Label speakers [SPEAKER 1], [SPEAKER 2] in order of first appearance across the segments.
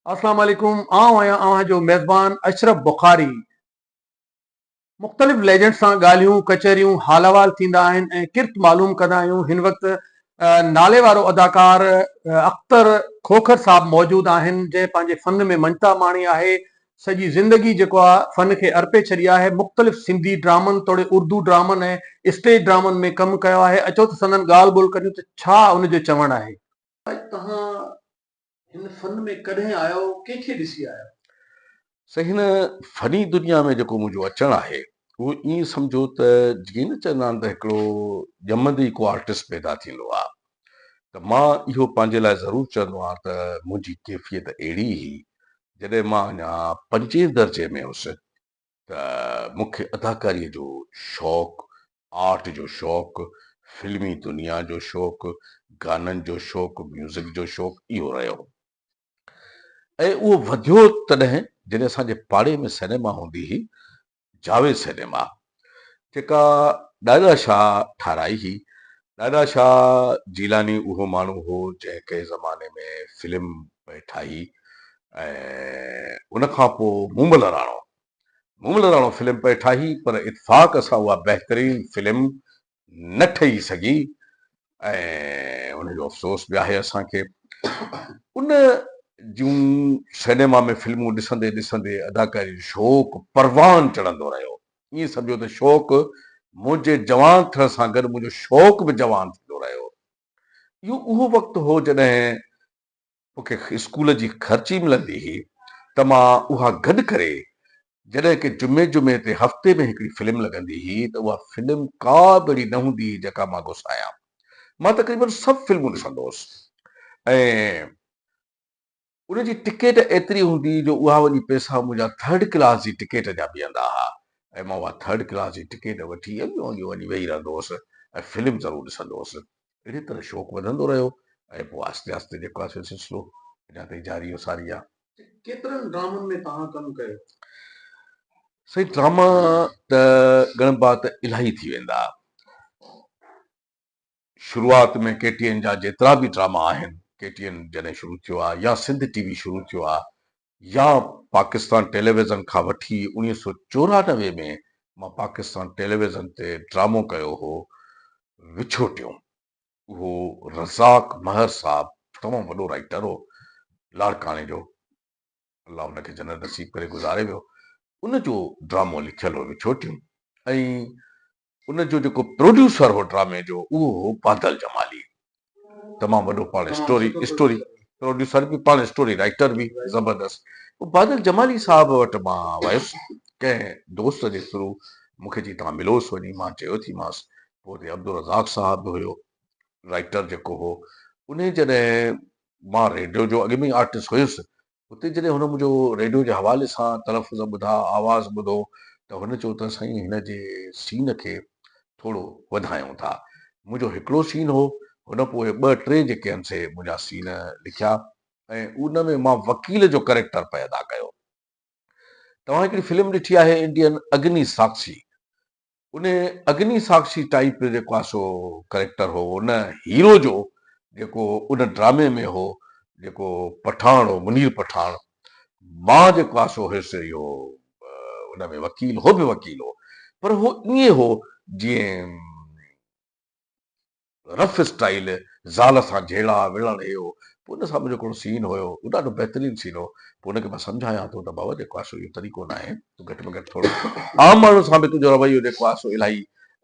[SPEAKER 1] السلام عليڪم آئون آهيان اوهان جو ميزبان اشرف بخاري مختلف ليجنڊ سان ڳالهيون ڪچهريون حال احوال ٿيندا آهن ۽ ڪرت معلوم ڪندا آهيون هن وقت نالي وارو اداڪار اختر کوکر صاحب موجود آهن جنهن پنهنجي فن ۾ مڃتا ماڻي آهي سڄي زندگي جيڪو آ فن کي ارپي ڇڏي آهي مختلف سنڌي ڊرامن توڙي اردو ڊرامن ۽ اسٽيج ڊرامن ۾ ڪم ڪيو آهي اچو ته سندن ڳالهه ٻولهه ڪريون ته ڇا ان جو چوڻ آهي توهان هن فن ۾ ڪڏهن آيا هو ڪنهن کي ڏسي آيا هو؟ سائين هن
[SPEAKER 2] فني دنيا ۾ جيڪو منهنجو اچڻ آهي اهو ائين سمجهو ته جيئن نه چوندا آهن ته هڪڙو ڄمندي ئي ڪو آرٽسٽ پيدا ٿيندو آهي ته مان اهو پنهنجي لاء ضرور چوندو آهيان ته منهنجي ڪيفيت اهڙي هئي جڏهن مان اڃا پنجين درجي ۾ هوس ته مون کي اداڪاريء جو شوق، آرٽ جو شوق، فلمي دنيا جو شوق، گانن جو شوق، ميوزڪ جو شوق اهو رهيو ۽ اهو وڌيو تڏهن جڏهن اسان جي پاڙي ۾ سئنيما هوندي هئي جاويد سئنيما جيڪا ڏاڏا شاهه ٺاهرائي هئي دادا شاهه جيلاني اهو ماڻهو هو جنهن ڪنهن زماني ۾ فلم پئي ٺاهي ۽ ان کان پوء مومل راڻو مومل راڻو فلم پئي ٺاهي پر اتفاق سان اها بهترين فلم نه ٺهي سگهي ۽ ان جو افسوس به آهي اسان کي ان جون سئنيما ۾ فلمون ڏسندي ڏسندي اداڪاري جو شوق پروان چڙهندو رهيو ائين سمجهو ته شوق منهنجي جوان ٿيڻ سان گڏ منهنجو شوق به جوان ٿيندو رهيو. اهو اهو وقت هو جڏهن مون کي اسڪول جي خرچي ملندي هئي ته مان اها گڏ ڪري جڏهن ڪي جمعي جمعي تي هفتي ۾ هڪڙي فلم لڳندي هئي ته اها فلم ڪا به اهڙي نه هوندي هئي جيڪا مان گسايان. مان تقريبن سڀ فلمون ڏسندو هوس ۽ ان جي ٽڪيٽ ايتري هوندي هئي جو اها وڃي پئسا منهنجا ٿرڊ ڪلاس جي ٽڪيٽ جا بيهندا ها ۽ مان اها ٿرڊ ڪلاس جي ٽڪيٽ وٺي اڳ وانگي وڃي ويهي رهندو هوس ۽ فلم ضرور ڏسندو هوس. اهڙي طرح شوق وڌندو رهيو ۽ پوء آهستي آهستي جيڪو آهي سو سلسلو اڃا تائين جاري و ساري آهي. ڪيترن ڊرامن
[SPEAKER 1] ۾ توهان ڪم ڪيو؟
[SPEAKER 2] سائين ڊراما ته ڳڻبا ته الاهي ٿي ويندا. شروعات ۾ ڪي ٽي اين جا جيترا به ڊراما آهن ڪي ٽي اين جڏهن شروع ٿيو آهي يا سنڌ ٽي وي شروع ٿيو آهي يا پاڪستان ٽيليويزن کان وٺي اوڻيهه سو چورانوي ۾ مان پاڪستان ٽيليويزن تي ڊرامو ڪيو هو وڇو ٽيون اهو رزاق مهر صاحب تمام وڏو رائيٽر هو لاڙڪاڻي جو الله ان کي جنت نصيب ڪري گذاري ويو ان جو ڊرامو لکيل هو وڇو ٽيون ۽ ان جو جيڪو پروڊيوسر هو ڊرامي جو اهو هو بادل جمالي تمام وڏو پاڻ اسٽوري اسٽوري پروڊيوسر به پاڻ اسٽوري رائيٽر به زبردست پوء بادل جمالي صاحب وٽ مان ويس ڪنهن دوست جي ٿرو مونکي چي توهان ملوس وڃي مان چيو ٿي مانس پوء اتي عبدالرزاق صاحب به هيو رائيٽر جيڪو هو انهي جڏهن مان ريڊيو جو اڳ ۾ ئي آرٽسٽ هيس اتي جڏهن هن منهنجو ريڊيو جي حوالي سان تلفظ ٻڌا، آواز ٻڌو ته هن چيو ته سائين هن جي سين کي ٿورو وڌايون ٿا. منهنجو هڪڙو سين هو، هن پوء ٻه ٽي جيڪي هن سي منهنجا سين لکيا ۽ ان ۾ مان وڪيل جو ڪريڪٽر پئي ادا ڪيو. توهان هڪڙي فلم ڏٺي آهي انڊين اگني ساڪشي ان اگني ساڪشي ٽائيپ جيڪو آ سو ڪريڪٽر هو ان هيرو جو جيڪو ان ڊرامي ۾ هو جيڪو پٺاڻ هو منير پٺاڻ مان جيڪو آ سو هيس اهو ان ۾ وڪيل هو به وڪيل هو پر هو ائين هو جيئن رف اسٽائيل زال سان جهيڙا وڙهڻ اهو پوء ان سان منهنجو ڪهڙو سين هيو اهو ڏاڍو بهترين سين هو پوء ان کي مان سمجهايان ٿو ته بابا جيڪو آهي سو اهو طريقو نه آهي تون گهٽ ۾ گهٽ ٿورو عام ماڻهن سان به تنهنجو رويو جيڪو آهي سو الاهي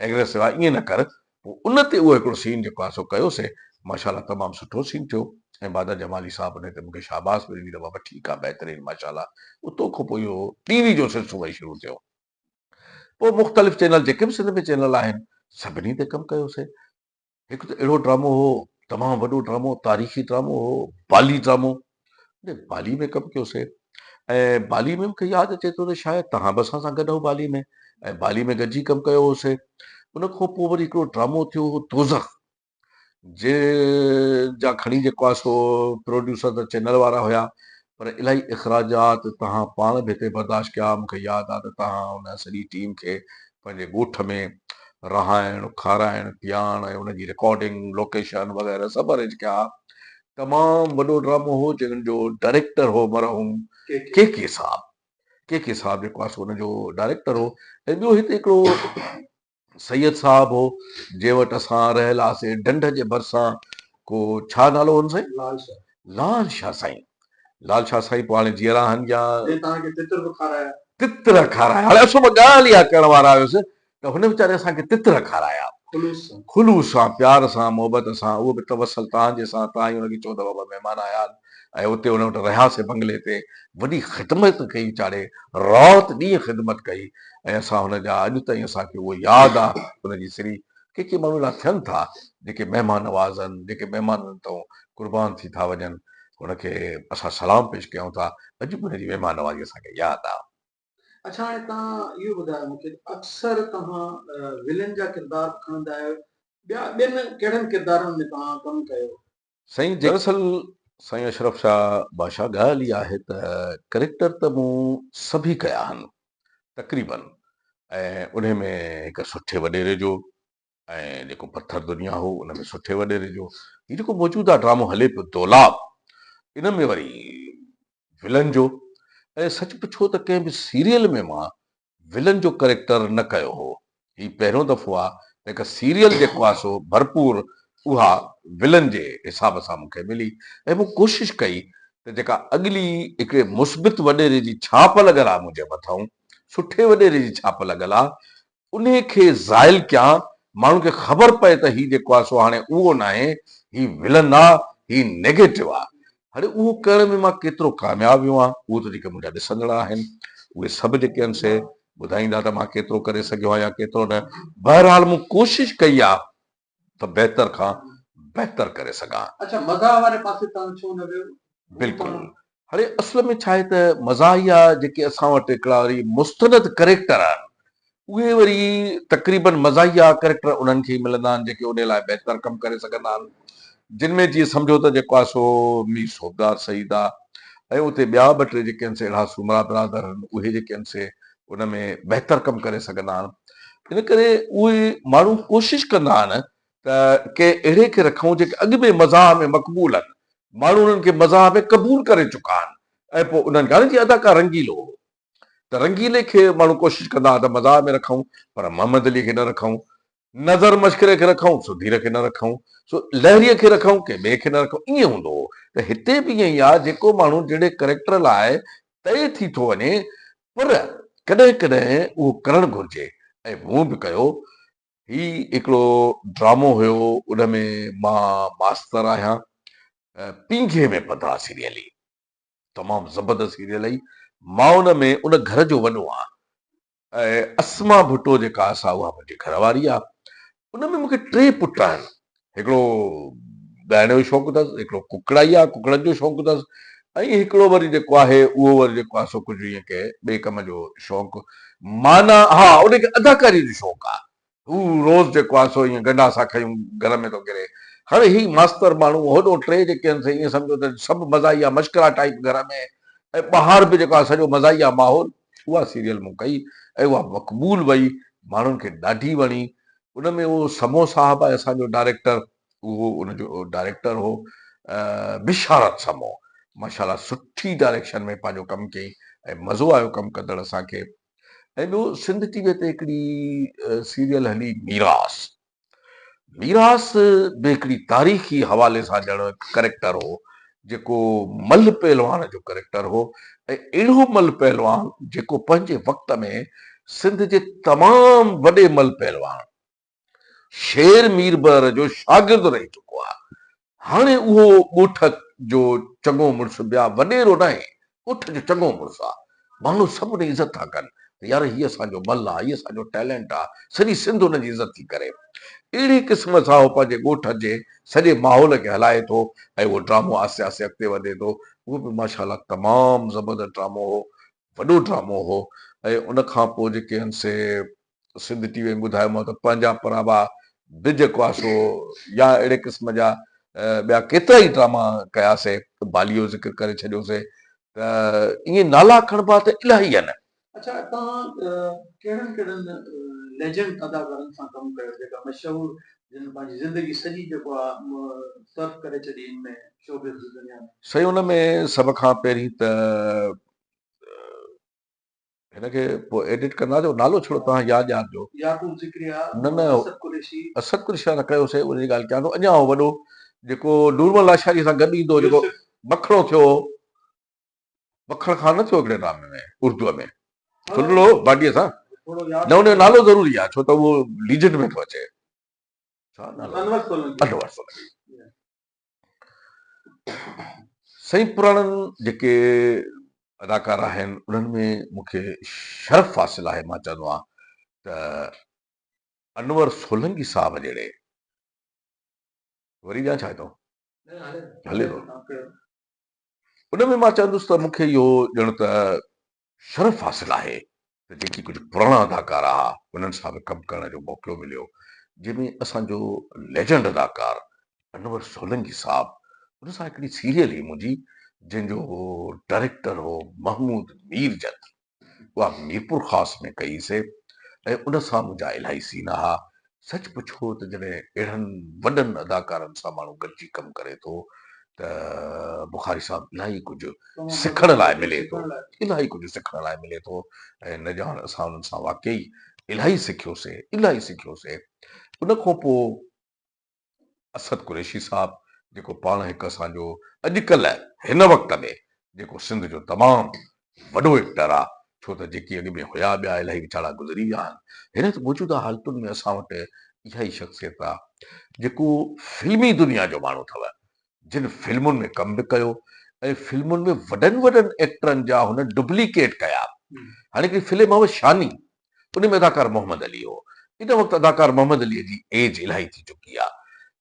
[SPEAKER 2] ايگريسو آهي ائين نه ڪر پوء ان تي اهو هڪڙو سين جيڪو آهي سو ڪيو سي ماشاء الله تمام سٺو سين ٿيو ۽ بعد جمالي صاحب انهي تي مون کي شاباس به ڏني ته بابا ٺيڪ آهي بهترين ماشاء الله اتو کان پوء اهو ٽي وي جو سلسلو وئي شروع ٿيو. پوء مختلف چينل جيڪي به سنڌ ۾ چينل آهن سڀني تي ڪم ڪيوسي. هڪ ته اهڙو ڊرامو هو تمام وڏو ڊرامو تاريخي ڊرامو هو بالي ڊرامو بالي ۾ ڪم ڪيوسي ۽ بالي ۾ مونکي ياد اچي ٿو ته شايد توهان به اسان سان گڏ هو بالي ۾ ۽ بالي ۾ گڏجي ڪم ڪيو هوسي ان کان پوء وري هڪڙو ڊرامو ٿيو هو دوزخ جنهن جا کڻي جي ڪواسو پروڊيوسر ته چئنل وارا هيا پر الائي اخراجات تهان پاڻ به هتي برداشت ڪيا مون کي ياد آ ته تهان ان سڄي ٽيم کي پنهنجي ڳوٺ ۾ رهائڻ کارائڻ پياڻ ۽ ان جي رڪارڊنگ لوڪيشن وغيره سڀ ارينج ڪيا ها تمام وڏو ڊرامو هو جنهن جو ڊائريڪٽر هو مرحوم ڪي ڪي صاحب ڪي ڪي صاحب جي ڪواسو ان جو ڊائريڪٽر هو ۽ ٻيو هتي هڪڙو سيد صاحب هو جنهن وٽ اسان رهيل هئاسين ڍنڍ جي ڀرسان ڪو ڇا نالو هن سائين؟ لال شاهه. لال شاهه سائين. لال شاهه سائين پوء هاڻي جيئرا آهن يا. جنهن توهان کي تتر به کارايا. تتر کارايا هاڻي اسو به ڳالهه اها ڪرڻ وارا هيس ته هن ويچاري اسان کي تتر کارايا. خلوص سان. خلوص سان پيار سان محبت سان اهو به توسل توهان جي سان توهان ئي هن کي چئو ته بابا مهمان آيا آهن. ۽ اتي هن وٽ رهياسين بنگلي تي وڏي خدمت ڪئي چاڙهي رات ڏينهن خدمت ڪئي ۽ اسان هن جا اڄ تائين اسان کي اهو ياد آ هن جي سري ڪي ڪي ماڻهو اهڙا ٿين ٿا جيڪي مهمان نوازن جيڪي مهمانن تئون قربان ٿي ٿا وڃن هن کي اسان سلام پيش ڪيون ٿا اڄ به هن جي مهمان نوازي اسان کي ياد آ. اڇا هاڻي
[SPEAKER 1] توهان اهو ٻڌايو مون کي اڪثر توهان ولن جا ڪردار کڻندا آهيو ٻيا ٻين ڪهڙن ڪردارن ۾ توهان ڪم ڪيو؟ سائين دراصل
[SPEAKER 2] سائين اشرف شاهه باشا ڳالهه هي آهي ته ڪريڪٽر ته مون سڀي ڪيا آهن تقريبن ۽ انهي ۾ هڪ سٺي وڏيري جو ۽ جيڪو پٿر دنيا هو ان ۾ سٺي وڏيري جو هي جيڪو موجوده ڊرامو هلي پيو دولاب ان ۾ وري ولن جو ۽ سچ پڇو ته ڪنهن به سيريل ۾ مان ولن جو ڪريڪٽر نه ڪيو هو. هي پهريون دفعو آ ته هڪ سيريل جي ڪواسو ڀرپور اها ولن جي حساب سان مون کي ملي ۽ مون ڪوشش ڪئي ته جيڪا اڳلي هڪڙي مثبت وڏيري جي ڇاپ لڳل آ منهنجي مٿئون سٺي وڏيري جي ڇاپ لڳل آ انهي کي زائل ڪيان ماڻهن کي خبر پئي ته هي جي ڪواسو هاڻي اهو ناهي هي ولن آ هي نيگيٽو آ هاڻي اهو ڪرڻ ۾ مان ڪيترو ڪامياب ويو آهيان، اهو ته جيڪي منهنجا ڏسندڙ آهن، اهي سڀ جيڪي آهن سي ٻڌائيندا ته مان ڪيترو ڪري سگهيو آهيان يا ڪيترو نه. بهرحال مون ڪوشش ڪئي آهي ته بهتر کان بهتر ڪري سگهان. اڇا مزاح واري
[SPEAKER 1] پاسي توهان ڇو نه ويو؟ بلڪل.
[SPEAKER 2] هاڻي اصل ۾ ڇا آهي ته مزاحيه جيڪي اسان وٽ هڪڙا وري مستند ڪريڪٽر آهن، اهي وري تقريبن مزاحيه ڪريڪٽر انهن کي ئي ملندا آهن جيڪي انهي لاء بهتر ڪم ڪري سگهندا آهن جن ۾ جيئن سمجهو ته جيڪو آهي سو مير صوبدار سعيد آهي ۽ اتي ٻيا ٻه ٽي جيڪي آهن سي اهڙا سومرا برادر آهن اهي جيڪي آهن سي ان ۾ بهتر ڪم ڪري سگهندا آهن ان ڪري اهي ماڻهو ڪوشش ڪندا آهن ته ڪنهن اهڙي کي رکون جيڪي اڳ ۾ مزاح ۾ مقبول آهن ماڻهو انهن کي مزاح ۾ قبول ڪري چڪا آهن ۽ پوء انهن جي هاڻي جيئن اداڪار رنگيلو هو ته رنگيلي کي ماڻهو ڪوشش ڪندا ها ته مزاح ۾ رکون پر محمد علي کي نه رکون، نظر مشڪري کي رکون، سڌير کي نه رکون، لهريء کي رکون، ڪنهن ٻئي کي نه رکون، ائين هوندو هو ته هتي به ائين ئي آهي جيڪو ماڻهو جهڙي ڪريڪٽر لاء طئي ٿي ٿو وڃي پر ڪڏهن ڪڏهن اهو ڪرڻ گهرجي ۽ مون به ڪيو. هي هڪڙو ڊرامو هيو ان ۾ مان ماستر آهيان پينگهي ۾ پڌا سيريلي. تمام زبردست سيريل اھي ماون ۾ ان گھر جو وڏو آھان ۽ اسما ڀٽو جيڪا آھي سا اھا منھنجي گھر واري آھي ان ۾ مونکي ٽي پٽ آھن ھڪڙو ڳائڻ جو شوق اٿس ھڪڙو ڪڪڙائي آھي ڪڪڙن جو شوق اٿس ۽ ھڪڙو وري جيڪو آھي اھو وري جيڪو آھي سو ڪجھ ائين ڪنھن ٻئي ڪم جو شوق معنيٰ ھا ان کي اداڪاري جو شوق آھي هو روز جيڪو آهي سو ائين گنڊا سان کنيون گهر ۾ ٿو ڪري. هاڻي هي ماستر ماڻهو هوڏو ٽي جيڪي آهن سي ائين سمجهو ته سڀ مزاحيه مشڪرا ٽائيپ گهر ۾ ۽ ٻاهر به جيڪو آهي سڄو مزاحيه ماحول. اها سيريل مون ڪئي ۽ اها مقبول وئي ماڻهن کي ڏاڍي وڻي. ان ۾ اهو سمو صاحب آهي اسان جو ڊائريڪٽر اهو ان جو ڊائريڪٽر هو بشارت سمو ماشاءالله سٺي ڊائريڪشن ۾ پنهنجو ڪم ڪيئي ۽ مزو آيو ڪم ڪندڙ اسان کي. ۽ ٻيو سنڌ ٽي وي تي هڪڙي سيريل هلي ميراث ميراث به هڪڙي تاريخي حوالي سان ڄڻ ڪريڪٽر هو جيڪو مل پهلوان جو ڪريڪٽر هو ۽ اهڙو مل پهلوان جيڪو پنهنجي وقت ۾ سنڌ جي تمام وڏي مل پهلوان شير مير بحر جو شاگرد رهي چڪو آهي. هاڻي اهو ڳوٺ جو چڱو مڙس بيا وڏيرو ناهي، ڳوٺ جو چڱو مڙس آ. ماڻهو سڀني عزت ٿا ڪن ته يار هي اسان جو مل آ، هي اسان جو ٽيلنٽ آ، سڄي سنڌ ان جي عزت ٿي ڪري. اهڙي قسم سان اهو پنهنجي ڳوٺ جي سڄي ماحول کي هلائي ٿو ۽ اهو ڊرامو آهستي آهستي اڳتي وڌي ٿو. اهو به ماشاء الله تمام زبردست ڊرامو هو، وڏو ڊرامو هو ۽ ان کان پوء جيڪي هن سي سنڌ ٽي وي ۾ ٻڌايو مون ته پنهنجا پرابا، ڊڄ ڪواسو يا اهڙي قسم جا ٻيا ڪيترا ئي ڊراما ڪيا سي، باليء جو ذڪر ڪري ڇڏيو سي ته ائين نالا کڻبا ته الاهي آهن. اڇا توهان
[SPEAKER 1] ڪهڙن ڪهڙن ليجنڊ اداڪارن سان ڪم ڪيو جيڪا مشهور جن پنهنجي زندگي سڄي جيڪو آ صرف ڪري ڇڏي ان ۾ شوبز جي دنيا ۾. سائين ان ۾
[SPEAKER 2] سڀ کان پهرين ته هن کي پوء ايڊٽ ڪندا جو نالو ڇڙو توهان ياد ڄار جو يعقوب ذڪريا نه
[SPEAKER 1] نه اسد قريشي اسد قريشي سان نه ڪيو
[SPEAKER 2] سي ان جي ڳالهه ڪيان ٿو اڃا هو وڏو جيڪو نورمل لاشاري سان گڏ ايندو جيڪو مکڻو ٿيو مکڻ خان نه ٿيو هڪڙي ڊرامي ۾ اردو ۾ ٿلڙو باڊي سان نه ان جو نالو ضروري آهي ڇو ته اهو ليجنڊ ۾ ٿو اچي انور سولنگي سائين پراڻن جيڪي اداڪار آهن انهن ۾ مون کي شرف حاصل آهي مان چوندو آهيان ته انور سولنگي صاحب جهڙي وري ڏيان ڇا ٿو هلي ٿو ان ۾ مان چوندس ته مون کي اهو ڄڻ ته شرف حاصل آهي ته جيڪي ڪجهه پراڻا اداڪار آها انهن سان به ڪم ڪرڻ جو موقعو مليو جنهن ۾ اسان جو ليجنڊ اداڪار انور سولنگي صاحب ان سان هڪڙي سيريل هئي منهنجي جنهن جو ڊائريڪٽر هو محمود مير جت اها ميرپور خاص ۾ ڪئي سي ۽ ان سان منهنجا الاهي سين آها سچ پڇو ته جڏهن اهڙن وڏن اداڪارن سان ماڻهو گڏجي ڪم ڪري ٿو ته بخاري صاحب الاهي ڪجهه سکڻ لاء ملي ٿو الاهي ڪجهه سکڻ لاء ملي ٿو ۽ نه ڄاڻ اسان انهن سان واقعي الاهي سکيوسي الاهي سکيوسي ان کان پوء اسد قريشي صاحب جيڪو پاڻ هڪ اسان جو اڄڪلهه هن وقت ۾ جيڪو سنڌ جو تمام وڏو ايڪٽر آ ڇو ته جيڪي اڳ ۾ هيا ٻيا الائي ويچارا گذري ويا آهن هن موجوده حالتن ۾ اسان وٽ اها ئي شخصيت آ جيڪو فلمي دنيا جو ماڻهو اٿو جن فلمن ۾ ڪم به ڪيو ۽ فلمن ۾ وڏن وڏن ايڪٽرن جا هن ڊبليڪيٽ ڪيا هاڻي هڪڙي فلم هئ شاني انهي ۾ اداڪار محمد علي هو. ان وقت اداڪار محمد علي جي ايج الائي ٿي چڪي آ.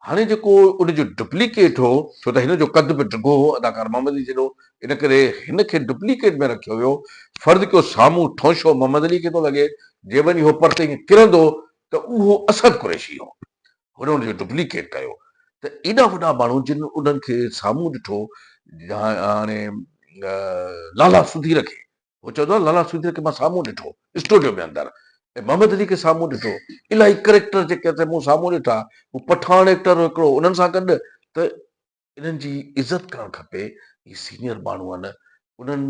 [SPEAKER 2] هاڻي جيڪو ان جو ڊپليڪيٽ هو، ڇو ته هن جو قد به ڊگهو هو اداڪار محمد علي جيڏو، ان ڪري هن کي ڊپليڪيٽ ۾ رکيو ويو. فرض ڪيو سامهون ٺونشو محمد علي کي ٿو لڳي، جي وڃي هو پرتي ائين ڪرندو ته اهو اسد قريشي هو. هن ان جو ڊپليڪيٽ ڪيو ته ايڏا وڏا ماڻهو جن انهن کي سامهون ڏٺو، هاڻي لالا سڌير کي هو چوندو آهي لالا سوجري کي مان سامهون ڏٺو اسٽوڊيو ۾ اندر ۽ محمد علي کي سامهون ڏٺو الاهي ڪريڪٽر جيڪي اٿئي مون سامهون ڏٺا هو پٺاڻ ايڪٽر هو هڪڙو انهن سان گڏ ته انهن جي عزت ڪرڻ کپي هي سينيئر ماڻهو آهن انهن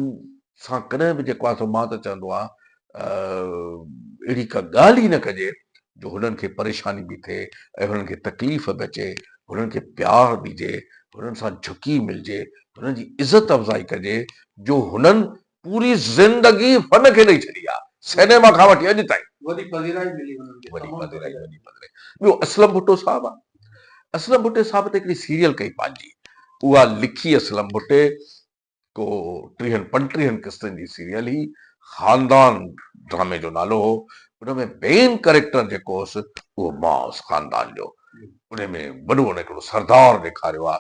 [SPEAKER 2] سان ڪڏهن به جيڪو آهي سو مان ته چوندو آهيان اهڙي ڪا ڳالهه ئي نه ڪجي جو هنن کي پريشاني به ٿئي ۽ هنن کي تڪليف به اچي، هنن کي پيار ڏجي، هنن سان جهڪي ملجي، هنن جي عزت افزائي ڪجي جو هنن پوري زندگي فن کي ڏئي ڇڏي آ، سئنيما کان وٺي اڄ تائين. وڏي پذيرائي ملي هنن کي تمام پذيرائي. وڏي پذيرائي. ٻيو اسلم ڀٽو صاحب آ، اسلم ڀٽي صاحب ته هڪڙي سيريل ڪئي پنهنجي، اها لکي اسلم ڀٽي. ڪو ٽيهن پنٽيهن قسطن جي سيريل هئي، خاندان ڊرامي جو نالو هو، ان ۾ مين ڪريڪٽر جيڪو هوس اهو مان هوس خاندان جو، ان ۾ وڏو ان هڪڙو سردار ڏيکاريو آ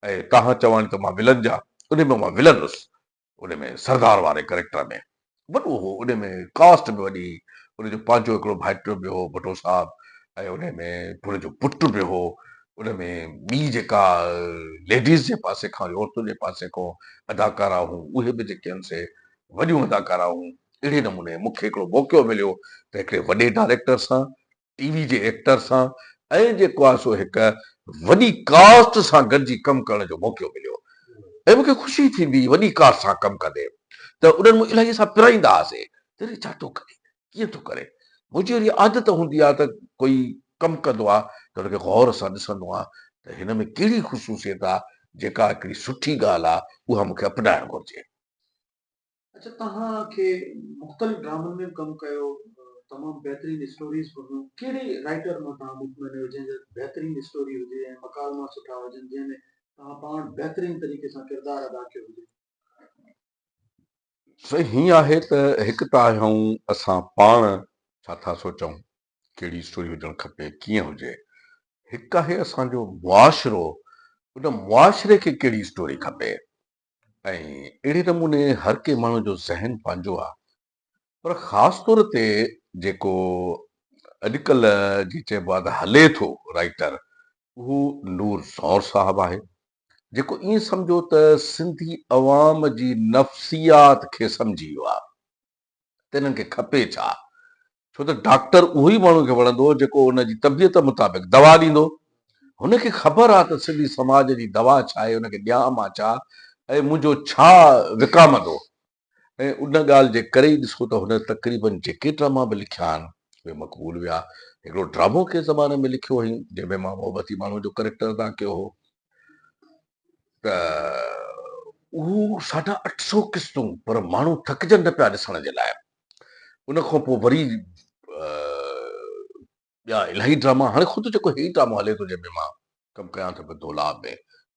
[SPEAKER 2] ۽ تهان چواني ته مان ولن جا ان ۾ مان ولن هوس، ان ۾ سردار واري ڪريڪٽر ۾. وڏو هو، انهي ۾ ڪاسٽ به وڏي هئي، ان جو پنهنجو هڪڙو ڀائٽو به هو ڀٽو صاحب ۽ انهي ۾ پڻ جو پٽ به هو، ان ۾ ٻي جيڪا ليڊيز جي پاسي کان وري عورتن جي پاسي کان اداڪارا هون اهي به جيڪي هن سي وڏيون اداڪارا هون، اهڙي نموني مون کي هڪڙو موقعو مليو ته هڪڙي وڏي ڊائريڪٽر سان ٽي وي جي ايڪٽر سان ۽ جي ڪواسو هڪ وڏي ڪاسٽ سان گڏجي ڪم ڪرڻ جو موقعو مليو ۽ مون کي خوشي ٿيندي هئي وڏي ڪاسٽ سان ڪم ڪندي ته انهن مون الائي سان پرائيندا هئاسين ته هي ڇا ٿو ڪري ڪيئن ٿو ڪري منهنجي اهڙي عادت هوندي آهي ته ڪوئي ڪم ڪندو آهي ته ان کي غور سان ڏسندو آهيان ته هن ۾ ڪهڙي خصوصيت آهي جيڪا هڪڙي سٺي ڳالهه آهي اها مون کي اپنائڻ گهرجي.
[SPEAKER 1] اچا توهان کي مختلف ڊرامن ۾ به ڪم ڪيو تمام بهترين اسٽوريز به هيون ڪهڙي رائيٽر مان توهان مطمئن آهيو جنهن جا بهترين اسٽوري هجي ۽ مڪالما سٺا هجن جنهن ۾ توهان پاڻ بهترين طريقي سان ڪردار ادا ڪيو هجي.
[SPEAKER 2] سائين هيئن آهي ته هڪ ته آهي آئون اسان پاڻ ڇا ٿا سوچون ڪهڙي اسٽوري هجڻ کپي ڪيئن هجي هڪ آهي اسان جو معاشرو ان معاشري کي ڪهڙي اسٽوري کپي ۽ اهڙي نموني هر ڪنهن ماڻهو جو ذهن پنهنجو آ پر خاص طور تي جيڪو اڄڪلهه جي چئبو آ ته هلي ٿو رائيٽر اهو نور سانور صاحب آهي جيڪو ائين سمجهو ته سنڌي عوام جي نفسيات کي سمجهي ويو آ. ته انهن کي کپي ڇا؟ ڇو ته ڊاڪٽر اهو ئي ماڻهو کي وڻندو جيڪو ان جي طبيعت مطابق دوا ڏيندو. هن کي خبر آ ته سنڌي سماج جي دوا ڇا آهي، ان کي ڏيان مان ڇا ۽ منهنجو ڇا وڪامندو ۽ ان ڳالهه جي ڪري ئي ڏسو ته هن تقريبن جيڪي ڊراما به لکيا آهن اهي مقبول ويا. هڪڙو ڊرامو ڪنهن زماني ۾ لکيو هئين جنهن ۾ مان محبتي ماڻهو جو ڪريڪٽر ادا ڪيو هو. ته اهو ساڍا اٺ سؤ قسطون پر ماڻهو ٿڪجن نه پيا ڏسڻ جي لاء. ان کان پوء وري ٻيا الاهي ڊراما هاڻي خود جيڪو هي ڊرامو هلي ٿو جنهن ۾ مان ڪم ڪيان ٿو پيو دولا ۾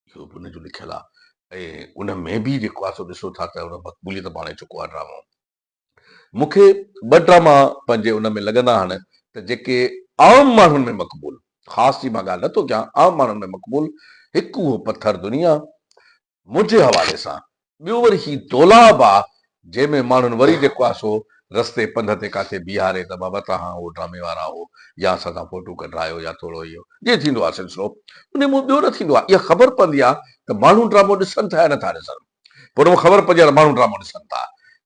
[SPEAKER 2] اهو به ان جو لکيل آهي ۽ ان ۾ به جيڪو آهي سو ڏسو ٿا ته ان مقبوليت ماڻي چڪو آهي ڊرامو. مون کي ٻه ڊراما پنهنجي ان ۾ لڳندا آهن ته جيڪي عام ماڻهن ۾ مقبول، خاص جي مان ڳالهه نه ٿو ڪيان، عام ماڻهن ۾ مقبول، هڪ اهو پٿر دنيا، منهنجي حوالي سان، ٻيو وري هي دولاب آ، جنهن ۾ ماڻهن وري جيڪو آ سو رستي پنڌ تي ڪاٿي بيهاري ته بابا تهان اهو ڊرامي وارا هو يا اسان سان فوٽو ڪڍرايو يا ٿورو اهو جيئن ٿيندو آ سلسلو انهي مون ٻيو نه ٿيندو آ اها خبر پوندي آ ته ماڻهو ڊرامو ڏسن ٿا يا نه ٿا ڏسن. پوء ان مان خبر پئجي ها ته ماڻهو ڊرامو ڏسن ٿا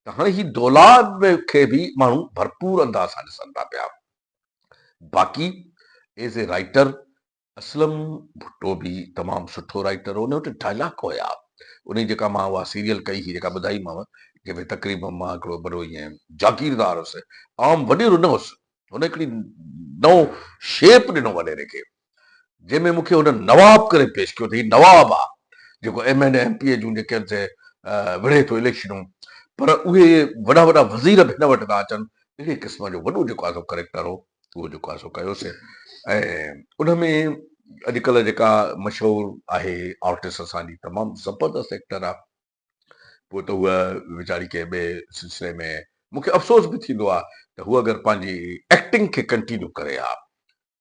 [SPEAKER 2] ته هاڻي هي دولاب کي به ماڻهو ڀرپور انداز سان ڏسن ٿا پيا. باقي as a writer Aslam Bhutto به تمام سٺو رائيٽر هو. ان وٽ ڊائلاگ هيا. انهي جيڪا مان اها سيريل ڪئي هئي جيڪا ٻڌائي مانء جنهن ۾ تقريبن مان هڪڙو وڏو ائين جاگيردار هوس عام وڏيرو نه هوس. هن هڪڙي نئون شيپ ڏنو وڏيري کي. جنهن ۾ مون کي هن نواب ڪري پيش ڪيو ته هي نواب آ جيڪو M N A M P A جون جيڪي سي وڙهي ٿو اليڪشنون پر اهي وڏا وڏا وزير به هن وٽ ٿا اچن اهڙي قسم جو وڏو جيڪو آ سو ڪريڪٽر هو اهو جيڪو آ سو ڪيو سي ۽ ان ۾ اڄ ڪلهه جيڪا مشهور آهي آرٽسٽ اسان جي تمام زبردست ايڪٽر آ پوء ته هوء ويچاري ڪنهن ٻئي سلسلي ۾ مون کي افسوس به ٿيندو آ ته هوء اگر پنهنجي ايڪٽنگ کي ڪنٽينيو ڪري ها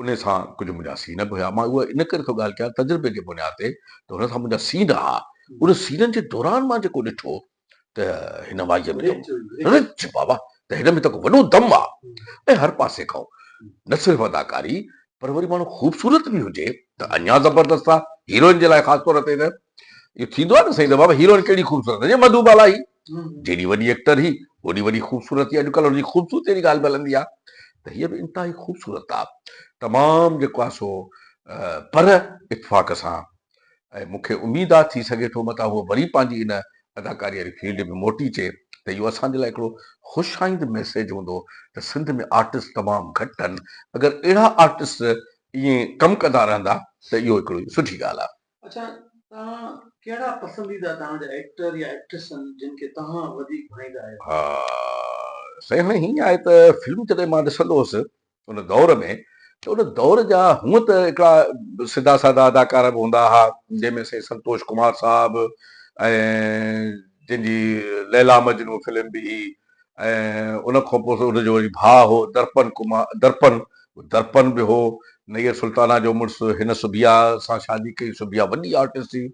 [SPEAKER 2] انهي سان ڪجهه منهنجا سين به هيا. مان اهو ان ڪري ٿو ڳالهه ڪيان تجربي جي بنياد تي ته هن سان منهنجا سين رها. انهن سينن جي دوران مان جيڪو ڏٺو ته هن وائيء ۾ ته رچ بابا ته هن ۾ ته ڪو وڏو دم آ ۽ هر پاسي کان نه صرف اداڪاري پر وري ماڻهو خوبصورت به هجي ته اڃا زبردست آ. هيروئن جي لاء خاص طور تي ته اهو ٿيندو آ نه سائين ته بابا هيروئن ڪهڙي خوبصورت هجي مڌوبالا هي. جيڏي وڏي ايڪٽر هي اوڏي وڏي خوبصورت ٿي اڄڪلهه ان جي خوبصورتي جي ڳالهه به هلندي آهي ته هيء به انتهائي خوبصورت آهي تمام جيڪو آهي سو پر اتفاق سان ۽ مون کي اميد آهي ٿي سگهي ٿو متان هوء وري پنهنجي ان اداڪاري واري فيلڊ ۾ موٽي اچي ته اهو اسان جي لاء هڪڙو خوش آئند ميسيج هوندو ته سنڌ ۾ آرٽسٽ تمام گهٽ آهن اگر اهڙا آرٽسٽ ائين ڪم ڪندا رهندا ته اهو هڪڙو سٺي ڳالهه آهي. اڇا توهان
[SPEAKER 1] ڪهڙا پسنديده توهان جا ايڪٽر يا ايڪٽريس آهن جن کي توهان وڌيڪ
[SPEAKER 2] ڀائيندا آهيو. ها سائين هاڻي هيئن آهي ته فلمون جڏهن مان ڏسندو هوس ان دور ۾ ته ان دور جا هونء ته هڪڙا سڌا سادا اداڪار به هوندا ها جنهن ۾ سائين سنتوش ڪمار صاحب ۽ جن جي ليلا مجنون فلم به هئي ۽ ان کان پوء ان جو وري ڀاء هو درپن ڪمار، درپن، درپن به هو، نيئر سلطانه جو مڙس، هن سبيا سان شادي ڪئي، سبيا وڏي آرٽسٽ ٿي.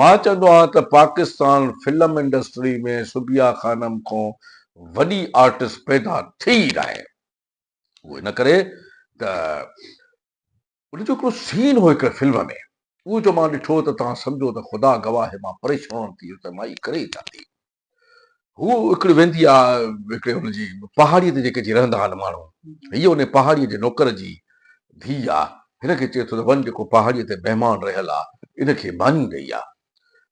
[SPEAKER 2] مان چوندو آهيان ته پاڪستان فلم انڊسٽري ۾ سبيا خانم کان وڏي آرٽسٽ پيدا ٿي ئي ناهي. اهو ان ڪري ته. ان جو هڪڙو سين هو هڪڙي فلم ۾ اهو جو مان ڏٺو ته توهان سمجهو ته خدا گواهه آهي مان پريشون ٿي ويس ته مان هي ڪري ئي ڇا ٿي هو هڪڙي ويندي آ هڪڙي ان جي پهاڙي تي جيڪي جي رهندا آهن ماڻهو هي ان پهاڙي جي نوڪر جي ڌي آ هن کي چئي ٿو ته وڃ جيڪو پهاڙي تي مهمان رهيل آ ان کي ماني ڏئي آ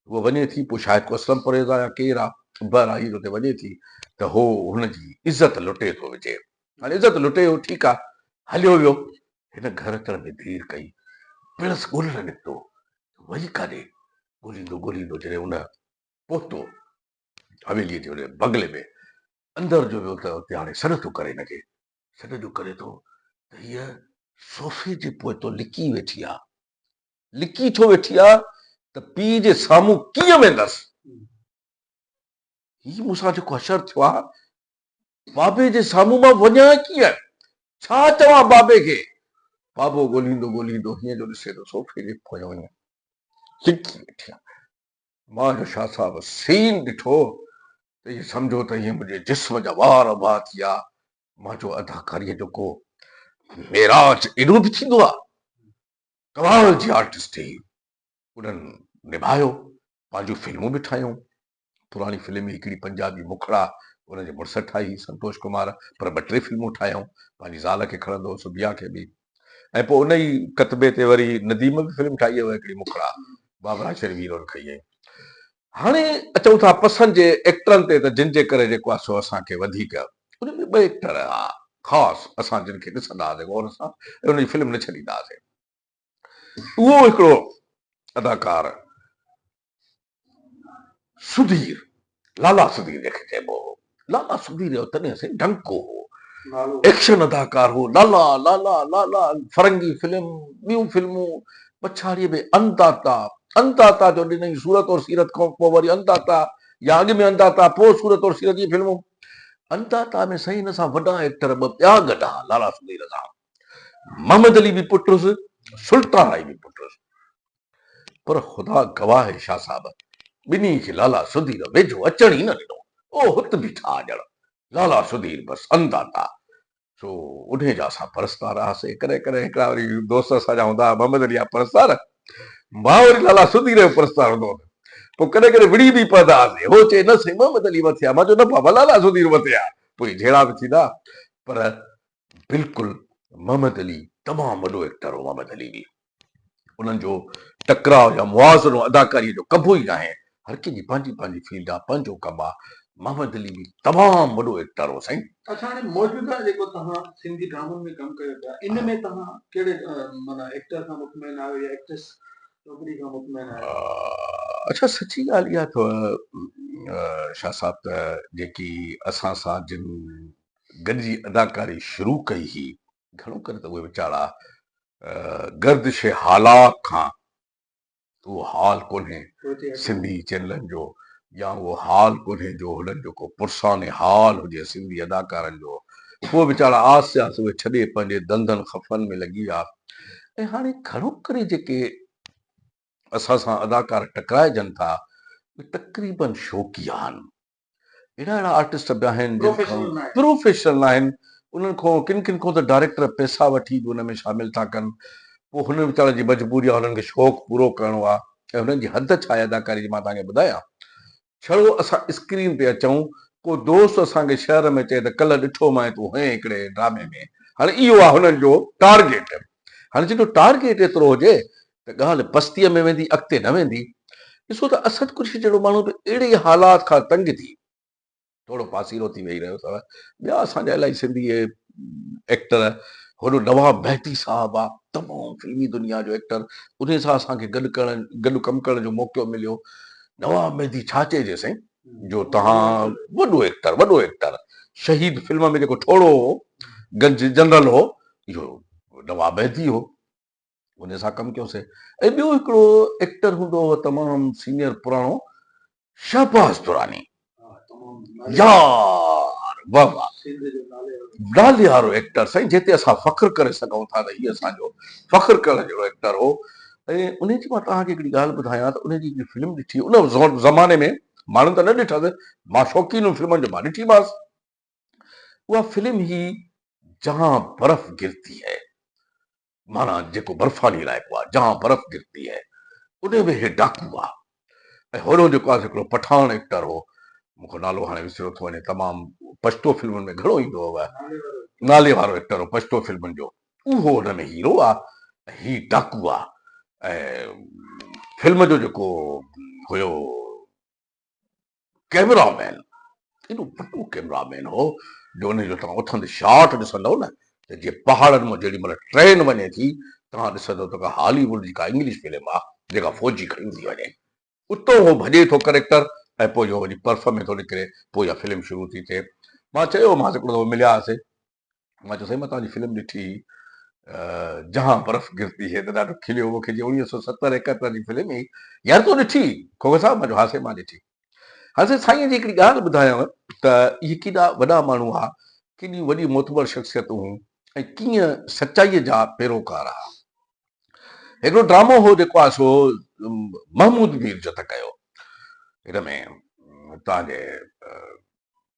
[SPEAKER 2] هو وڃي ٿي پوء شايد ڪو اسلم پرهيز آ يا ڪير آ بهرحال هي اتي وڃي ٿي ته هو هن جي عزت لٽي ٿو وجهي هاڻي عزت لٽي هو ٺيڪ آ هليو ويو هن گهر اچڻ ۾ دير ڪئي، پڻس ڳولڻ نڪتو ته وڃي ڪانهي، ڳوليندو ڳوليندو جڏهن ان پهتو حويليء جي ان بنگلي ۾ اندر جو ويو ته اتي هاڻي سڏ ٿو ڪري لڳي، سڏ جو ڪري ٿو ته هيء صوفي جي پوئتو لڪي ويٺي آ، لڪي ڇو ويٺي آ ته پيء جي سامهون ڪيئن ويندس، هي مون سان جيڪو حشر ٿيو آ بابي جي سامهون مان وڃان ڪيئن؟ ڇا چوان بابي کي؟ بابو ڳولهيندو ڳولهيندو هيئن جو ڏسي ته صوفي جي پويان وڃي لڪي ويٺي آهي. مان جو شاهه صاحب سين ڏٺو ته ائين سمجهو ته هيئن منهنجي جسم جا وار اڀا ٿي ويا. مان چيو اداڪاريء جو ڪو معراج ايڏو به ٿيندو آهي؟ ڪمال جي آرٽسٽ هي. انهن نڀايو، پنهنجون فلمون به ٺاهيون. پراڻي فلم ئي هڪڙي پنجابي مکڙا ان جي مڙس ٺاهي هئي سنتوش ڪمار پر ٻه ٽي فلمون ٺاهيائون پنهنجي زال کي کڻندو هو سبيا کي به ۽ پوء ان ئي ڪتبي تي وري نديم به فلم ٺاهي هئي هڪڙي مکڙا بابرا شير ويرون کئي هئي هاڻي اچون ٿا پسند جي ايڪٽرن تي ته جن جي ڪري جيڪو آهي سو اسان کي وڌيڪ ان ۾ ٻه ايڪٽر هئا خاص اسان جن کي ڏسندا هئاسين غور سان ۽ ان جي فلم نه ڇڏيندا هئاسين اهو هڪڙو اداڪار سڌير لالا سڌير جنهن کي چئبو هو لالا سڌير جو تڏهن سائين ڊنڪو هو ايڪشن اداڪار هو لالا لالا لالا فرنگي فلم ٻيون فلمون پڇاڙيء ۾ انداتا انداتا جو ڏنئي صورت اور سيرت کان پوء وري انداتا يا اڳ ۾ انداتا پوء صورت اور سيرت جي فلمون انداتا ۾ سائين ان سان وڏا ايڪٽر ٻه ٻيا گڏها لالا سڌير سان محمد علي به پٽ هوس، سلطان آئي به پٽ هوس. پر خدا گواهه آهي شاهه صاحب، ٻنهي کي لالا سڌير ويجهو اچڻ ئي نه ڏنو. او هت بيٺا ڄڻ لالا سڌير بس انداتا. سو انهي جا اسان پرستار هئاسين. ڪڏهن ڪڏهن هڪڙا وري دوست اسان جا هوندا ها، محمد علي جا پرستار، مان وري لالا سڌير جو پرستار هوندو هوس. پوء ڪڏهن ڪڏهن وڙهي به پوندا هئاسين. هو چئي، نه سائين محمد علي مٿي آهي. مان چيو، نه بابا لالا سڌير مٿي آهي. پوء جهيڙا به ٿيندا ها. پر بلڪل محمد علي تمام وڏو ايڪٽر هو محمد علي به انهن جو ٽڪراء يا موازنو اداڪاري جو ڪبو ئي ناهي هر ڪنهن جي پنهنجي پنهنجي فيلڊ آ پنهنجو ڪم آ محمد علي به تمام وڏو ايڪٽر هو سائين. اڇا هاڻي موجوده
[SPEAKER 1] جيڪو توهان سنڌي ڊرامن ۾ ڪم ڪيو پيا ان ۾ توهان ڪهڙي معنيٰ ايڪٽر کان مطمئن آهيو يا ايڪٽريس ڇوڪري کان مطمئن آهيو. اڇا سچي ڳالهه
[SPEAKER 2] اها اٿو شاهه صاحب ته جيڪي اسان سان جن گڏجي اداڪاري شروع ڪئي هئي، گهڻو ڪري ته اهي ويچارا گردش هالا کان اهو حال ڪونهي سنڌي چينلن جو يا اهو حال ڪونهي جو هنن جو ڪو پرسان حال هجي سنڌي اداڪارن جو اهي ويچارا آهستي آهستي اهي ڇڏي پنهنجي ڌنڌن خفن ۾ لڳي ويا ۽ هاڻي گهڻو ڪري جيڪي اسان سان اداڪار ٽڪرائجن ٿا اهي تقريبن شوقي آهن اهڙا اهڙا آرٽسٽ به آهن جن کان پروفيشنل نه آهن انهن کان ڪن ڪن کان ته ڊائريڪٽر پئسا وٺي به ان ۾ شامل ٿا ڪن پوء هنن ويچارن جي مجبوري آهي هنن کي شوق پورو ڪرڻو آهي ۽ هنن جي حد ڇا آهي اداڪاري جي مان توهان کي ٻڌايان ڇڙو اسان اسڪرين تي اچون ڪو دوست اسان کي شهر ۾ چئي ته ڪلهه ڏٺو مانء تون هئين هڪڙي ڊرامي ۾ هاڻي اهو آهي هنن جو ٽارگيٽ هاڻي جن جو ٽارگيٽ ايترو هجي ته ڳالهه پستيء ۾ ويندي اڳتي نه ويندي، ڏسو ته اسد قريشي جهڙو ماڻهو به اهڙي ئي حالات کان تنگ ٿي ٿورو پاسيرو ٿي ويهي رهيو اٿو. ٻيا اسان جا الاهي سنڌي ايڪٽر هن نواب مهدي صاحب آ تمام فلمي دنيا جو ايڪٽر انهي سان اسان کي گڏ ڪرڻ گڏ ڪم ڪرڻ جو موقعو مليو نواب مهدي ڇا چئجي سائين جو تهان وڏو ايڪٽر وڏو ايڪٽر شهيد فلم ۾ جيڪو ٺوڙهو هو گنج جنرل هو اهو نواب مهدي هو انهي سان ڪم ڪيو سي ۽ ٻيو هڪڙو ايڪٽر هوندو هو تمام سينئر پراڻو شهباز دراني يار واھ واھ نالي وارو ايڪٽر سائين جنهن تي اسان فخر ڪري سگهون ٿا ته هي اسان جو فخر ڪرڻ جهڙو ايڪٽر هو ۽ انهي جي مان توهان کي هڪڙي ڳالهه ٻڌايان ته انهي جي هڪڙي فلم ڏٺي ان زماني ۾ ماڻهن ته نه ڏٺس مان شوقين هيم فلمن جو مان ڏٺي ماس اها فلم هي جهان برف گرتي هي معنيٰ جيڪو برفاني علائقو آهي جهان برف گرتي هي انهي ۾ هي ڊاڪو هئا ۽ هوريون جيڪو آهي سو هڪڙو پٺاڻ ايڪٽر هو مون کي نالو هاڻي وسريو ٿو وڃي تمام پشتو فلمن ۾ گهڻو ايندو هو نالي وارو ايڪٽر هو پشتو فلمن جو اهو ان ۾ هيرو آ ۽ هي ڊاڪو آ ۽ فلم جو جيڪو هيو ڪئميرا مين ايڏو وڏو ڪئميرا مين هو جو ان جو توهان اٿندي شاٽ ڏسندؤ نه ته جيئن پهاڙن مان جيڏي مهل ٽرين وڃي ٿي توهان ڏسندؤ ته ڪا هالي ووڊ جي ڪا انگلش فلم آ جيڪا فوجي کڻي ٿي وڃي. اتو هو ڀڄي ٿو ڪريڪٽر ۽ پوء جو وڃي پرڦ ۾ ٿو نڪري پوء اها فلم شروع ٿي ٿئي. مان چيومانس هڪڙو دفعو ملياسين مان چيو سائين مان توهان جي فلم ڏٺي هئي جهان برف گرتي هي ته ڏاڍو کليو مون کي جيئن اڻويهه سؤ ستر ايڪهتر جي فلم هئي يار تو ڏٺي کوکر صاحب مان چيو ها سائين مان ڏٺي ها سائين سائين جي هڪڙي ڳالهه ٻڌايانو ته اهي ڪيڏا وڏا ماڻهو هئا ڪيڏيون وڏيون معتبر شخصيتون هيون ۽ ڪيئن سچائيء جا پيروڪار هئا هڪڙو ڊرامو هو جيڪو آء سو محمود مير جو ته ڪيو هن ۾ توهان جي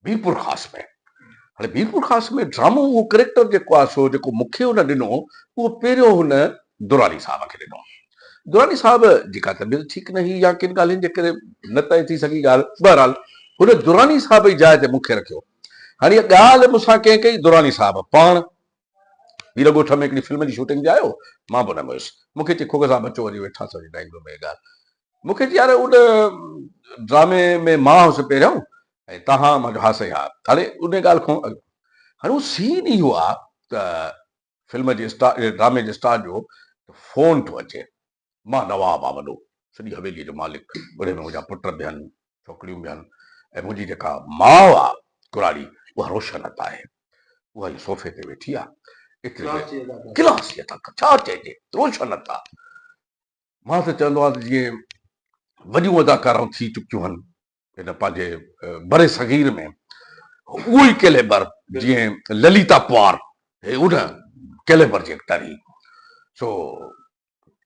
[SPEAKER 2] بيپور خاص ۾. هاڻي بيپور خاص ۾ ڊرامو اهو ڪريڪٽر جيڪو آهي سو جيڪو مون کي هن ڏنو اهو پهريون هن دراني صاحب کي ڏنو. دراني صاحب جي ڪا طبيعت ٺيڪ نه هئي يا ڪن ڳالهين جي ڪري نه طئي ٿي سگهي ڳالهه بهرحال هن دراني صاحب جي جاء تي مون کي رکيو. هاڻي اها ڳالهه مون سان ڪنهن ڪئي دراني صاحب پاڻ هير ڳوٺ ۾ هڪڙي فلم جي شوٽنگ تي آيو مان به ان ۾ هيس مون کي چي کوگه صاحب اچو وڃي ويٺا سان ڊرائنگ روم ۾ ڳالهه مون کي چي يار ان ڊرامي ۾ مان هوس پهريون ۽ تهان مان چيو ها سائين ها هاڻي ان ڳالهه کان اڳ هاڻي هو سين ئي اهو آ ته فلم جي اسٽار ڊرامي جي اسٽار جو فون ٿو اچي مان نواب آ وڏو، سڄي حويليء جو مالڪ، انهيء ۾ منهنجا پٽ به هن، ڇوڪريون به هن ۽ منهنجي جيڪا ماء آ ڪراڙي، اها روشنت آهي. اها هيء صوفي تي ويٺي آ. ايتري ۾ ڪلاچيء تان ڇا چئجي، روشنت آ. مان ته چوندو آهيان ته جيئن وڏيون اداڪارائون ٿي چڪيون هن، هن پنهنجي بر صغير ۾ اهو ئي ڪيليبر جيئن لليتا پوار هي ان ڪيليبر جي ايڪٽر هي سو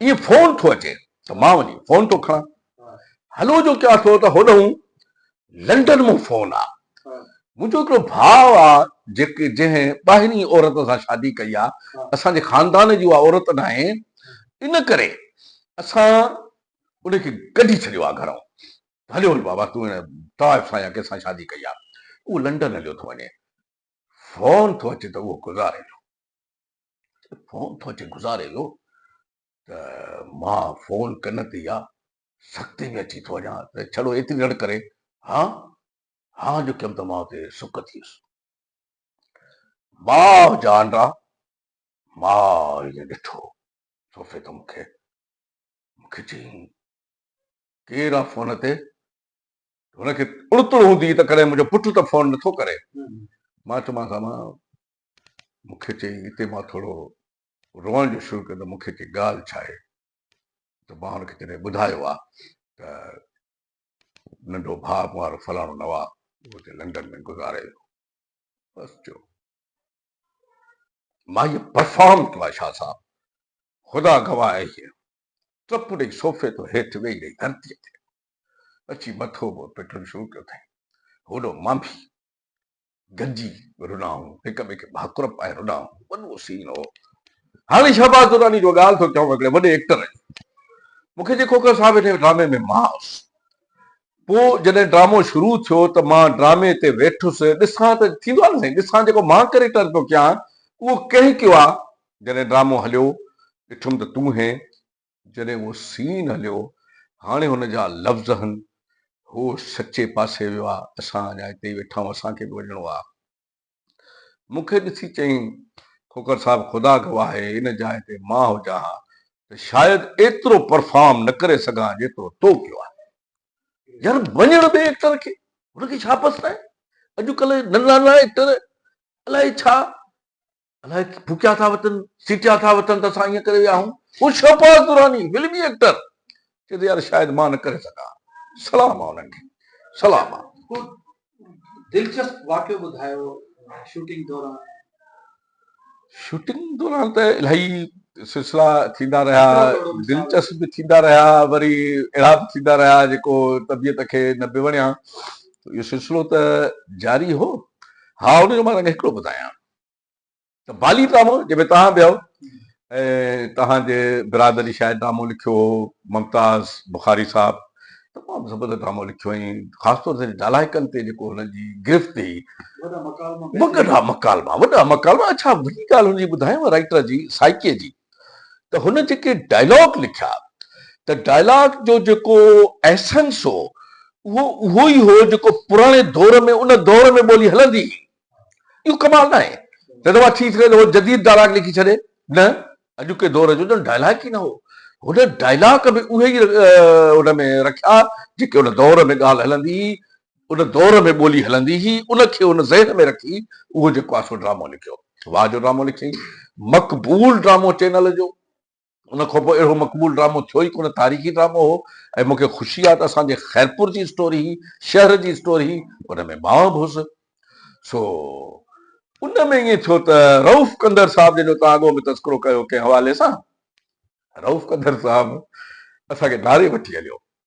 [SPEAKER 2] ائين فون ٿو اچي ته مان وڃي فون ٿو کڻان هلو جو ڪيان ٿو ته هوڏهون لنڊن مون فون آ منهنجو هڪڙو ڀاء آ جيڪي جنهن ٻاهرين عورت سان شادي ڪئي آ اسان جي خاندان جي اها عورت ناهي ان ڪري اسان ان کي ڪڍي ڇڏيو آ گهرون هليو وڃ بابا، تون هن طائف سان يا ڪنهن سان شادي ڪئي آهي، اهو لنڊن هليو ٿو وڃي. فون ٿو اچي ته اهو گذاريلو. فون ٿو اچي گذاريلو ته مان فون ڪن تي يا سختي ۾ اچي ٿو وڃان ته ڇڙو ايتري رڙ ڪري هان هان جو ڪيم ته مان اتي سڪ ٿيس. ماء جان را ماء ائين ڏٺو صوفي ته مون کي مون کي چيائين ڪير آ فون تي؟ هن کي تڙ تڙ هوندي هئي ته ڪڏهن منهنجو پٽ ته فون نه ٿو ڪري. مان چيومانس امان مون کي چئي اتي مان ٿورو روئڻ جو شروع ڪيو ته مون کي چئي ڳالهه ڇا آهي؟ ته مان هن کي جڏهن ٻڌايو آ ته ننڍو ڀاء مون وارو فلاڻو نواب اهو اتي لنڊن ۾ گذاري ويو. بس چئو ماهيء پرفارم ڪيو آ شاهه صاحب خدا گواهه آهي. ٽپ ڏئي صوفي تان هيٺ ويهي رهي ڌرتيء تي اچي مٿو منهن پٽڻ شروع ڪيو اٿائين هوڏو مان به گڏجي رڏائون هڪ ٻئي کي ڀاڪر پائي رڏائون وڏو سين هو هاڻي شهباز دراني جو ڳالهه ٿو چوان هڪڙي وڏي ايڪٽر جي مون کي جي کوکر صاحب هن ڊرامي ۾ مان هوس پوء جڏهن ڊرامو شروع ٿيو ته مان ڊرامي تي ويٺس ڏسان ته ٿيندو آهي نه سائين ڏسان جيڪو مان ڪريڪٽر پيو ڪيان اهو ڪنهن ڪيو آهي جڏهن ڊرامو هليو ڏٺم ته تون هين. جڏهن اهو سين هليو هاڻي هن جا لفظ هن. هو سچي پاسي ويو آ اسان اڃا هتي ئي ويٺا آهيون اسان کي به وڃڻو آ. مون کي ڏسي چيائين کوکر صاحب خدا گواهه آهي ان جاء تي مان هجان ها ته شايد ايترو پرفارم نه ڪري سگهان ها جيترو تو ڪيو آهي. يار وڃڻ ڏي ايڪٽر کي هن کي ڇا پسرائين اڄڪلهه ننڍا ننڍا ايڪٽر الائي ڇا الاء ڀوڪيا ٿا وتن، سيٽيا ٿا وتن ته اسان ائين ڪري ويا آهون. هو شهباز دراني، فلمي ايڪٽر، چئي ٿو يار شايد مان نه ڪري سگهان. سلام آ انهن کي. سلام آ. ڪو دلچسپ
[SPEAKER 1] واقعو ٻڌايو شوٽنگ دوران.
[SPEAKER 2] شوٽنگ دوران ته الاهي سلسلا ٿيندا رهيا، دلچسپ به ٿيندا رهيا، وري اهڙا به ٿيندا رهيا جيڪو طبيعت کي نه به وڻيا. اهو سلسلو ته جاري هو. ها ان جو مان توکي هڪڙو ٻڌايان. ته بالي ڊرامو جنهن ۾ توهان به آهو ۽ توهان جي برادري شايد ڊرامو لکيو هو ممتاز بخاري صاحب تمام زبردست ڊرامو لکيو ۽ خاص طور تي نالائقن تي جيڪو هنن جي گرفت هئي وڏا مڪالما وڏا مڪالما اڇا وڏي ڳالهه هن جي ٻڌايان رائٽر جي سائيڪي جي ته هن جيڪي ڊائلاگ لکيا ته ڊائلاگ جو جيڪو ايسنس هو اهو اهو ئي هو جيڪو پراڻي دور ۾ ان دور ۾ ٻولي هلندي هئي اهو ڪمال نه آهي نه ته مان ٿي سگهي ٿو اهو جديد ڊائلاگ لکي ڇڏي نه اڄوڪي دور جو ڄڻ ڊائلاگ ئي نه هو. هن ڊائلاگ به اهي ئي ان ۾ رکيا جيڪي ان دور ۾ ڳالهه هلندي هئي، ان دور ۾ ٻولي هلندي هئي، ان کي هن ذهن ۾ رکي اهو جيڪو آهي سو ڊرامو لکيو. واهه جو ڊرامو لکيائين. مقبول ڊرامو چينل جو. ان کان پوء اهڙو مقبول ڊرامو ٿيو ئي ڪونه، تاريخي ڊرامو هو ۽ مون کي خوشي آهي ته اسان جي خيرپور جي اسٽوري هئي، شهر جي اسٽوري هئي، ان ۾ مان به هوس. سو. ان ۾ ائين ٿيو ته رئوف ڪنڌر صاحب جن جو توهان اڳو به تذڪرو ڪيو ڪنهن حوالي سان، رئوف ڪنڌر صاحب اسان کي ڌاري وٺي هليو.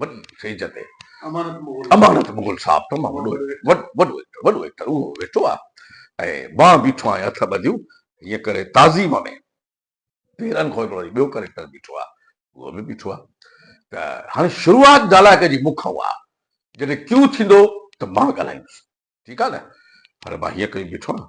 [SPEAKER 2] وڏي اسٽيج تي امانت مغل صاحب تمام وڏو وڏو ايڪٽر وڏو ايڪٽر اهو ويٺو آهي ۽ مان بيٺو آهيان هٿ ٻڌيون هيئن ڪري تعظيم ۾ پيرن کان هڪڙو ٻيو ڪريڪٽر بيٺو آهي اهو به بيٺو آهي ته هاڻي شروعات ڊالائڪ جي مون کان آهي جڏهن ڪيو ٿيندو ته مان ڳالهائيندس ٺيڪ آهي نه پر مان هيئن ڪري بيٺو آهيان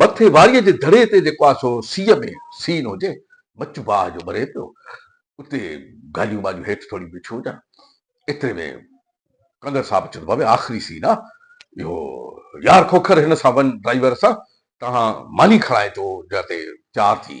[SPEAKER 2] مٿي واريء جي دڙي تي جيڪو آسو سيء ۾ سين هجي، مچ باهه جو ٻري پيو، اتي گاڏيون واڏيون هيٺ ٿوريون بيٺيون هجن. ايتري ۾ ڪنگر صاحب اچي ٿو بابي آخري سين آ اهو. يار کوکر هن سان وڃ ڊرائيور سان، تنهان ماني کڻائي تو جا تي تيار ٿي.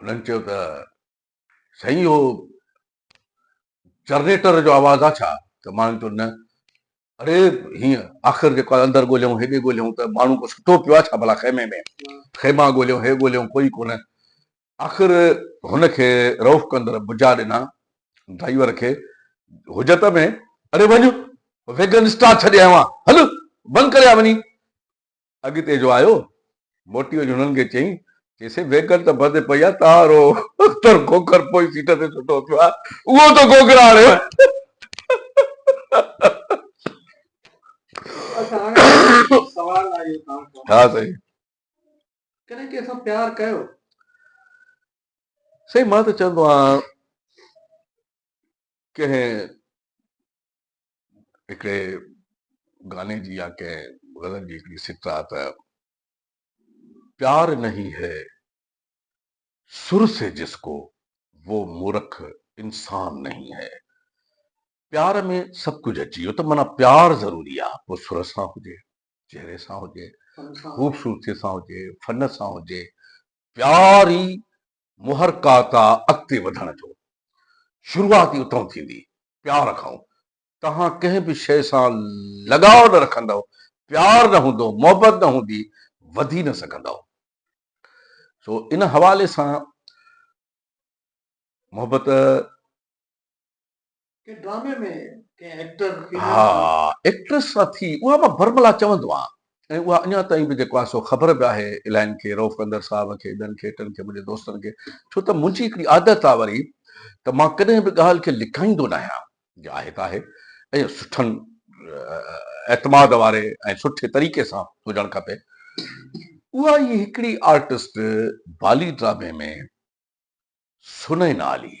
[SPEAKER 2] هنن چيو ته سائين اهو جرنيٽر جو آواز آ ڇا؟ ته ماڻهن چيو نه اڙي هيء آخر جيڪو آهي اندر ڳوليون هيڏي ڳوليون ته ماڻهو ڪو ستو پيو آ ڇا ڀلا خيمي ۾؟ خيما ڳوليون هي ڳوليون ڪوئي ڪونه آخر هن کي رئوف ڪندڙ بجا ڏنا ڊرائيور کي حجت ۾ اڙي وڃ ويگن اسٽار ڇڏي آيو آهيان هل بند ڪري آ وڃي اڳتي جو آيو، موٽي وڃي هنن کي چيائين، چيسين ويگل ته ڀرندي پئي آ، تار او اختر کوکر پوئين سيٽ تي سٺو ٿيو آ، اهو ته کوکر آڻيو آهي. ڪڏهن
[SPEAKER 1] ڪنهن سان پيار ڪيو؟
[SPEAKER 2] سائين مان ته چوندو آهيان ڪنهن هڪڙي گاني جي يا ڪنهن غزل جي هڪڙي سٽر آهي ته پيار نهي هي سر سي جس ڪو وو مورک انسان نهي هي پيار ۾ سڀ ڪجهه اچي ويو ته معنيٰ پيار ضروري آهي پوء سر سان هجي چهري سان هجي خوبصورتي سان هجي فن سان هجي پيار ئي محرڪه ته اڳتي وڌڻ جو شروعات ئي اتئون ٿيندي، پيار کائون. توهان ڪنهن به شيء سان لڳاء نه رکندؤ، پيار نه هوندو، محبت نه هوندي، وڌي نه سگهندؤ. سو ان حوالي سان محبت
[SPEAKER 1] ڪنهن ڊرامي ۾ ڪنهن ايڪٽر فيميل ها سان
[SPEAKER 2] ايڪٽريس سان ٿي اها مان برملا چوندو آهيان ۽ اها اڃا تائين به جيڪو آهي سو خبر به آهي الائين کي رئوف ڪنڌر صاحب کي ٻين کي ٽن کي منهنجي دوستن کي ڇو ته منهنجي هڪڙي عادت آهي وري ته مان ڪڏهن به ڳالهه کي لڪائيندو نه آهيان جي آهي ته آهي ۽ سٺن اعتماد واري ۽ سٺي طريقي سان هجڻ کپي اها ئي هڪڙي آرٽسٽ بالي ڊرامي ۾ سنئين عالي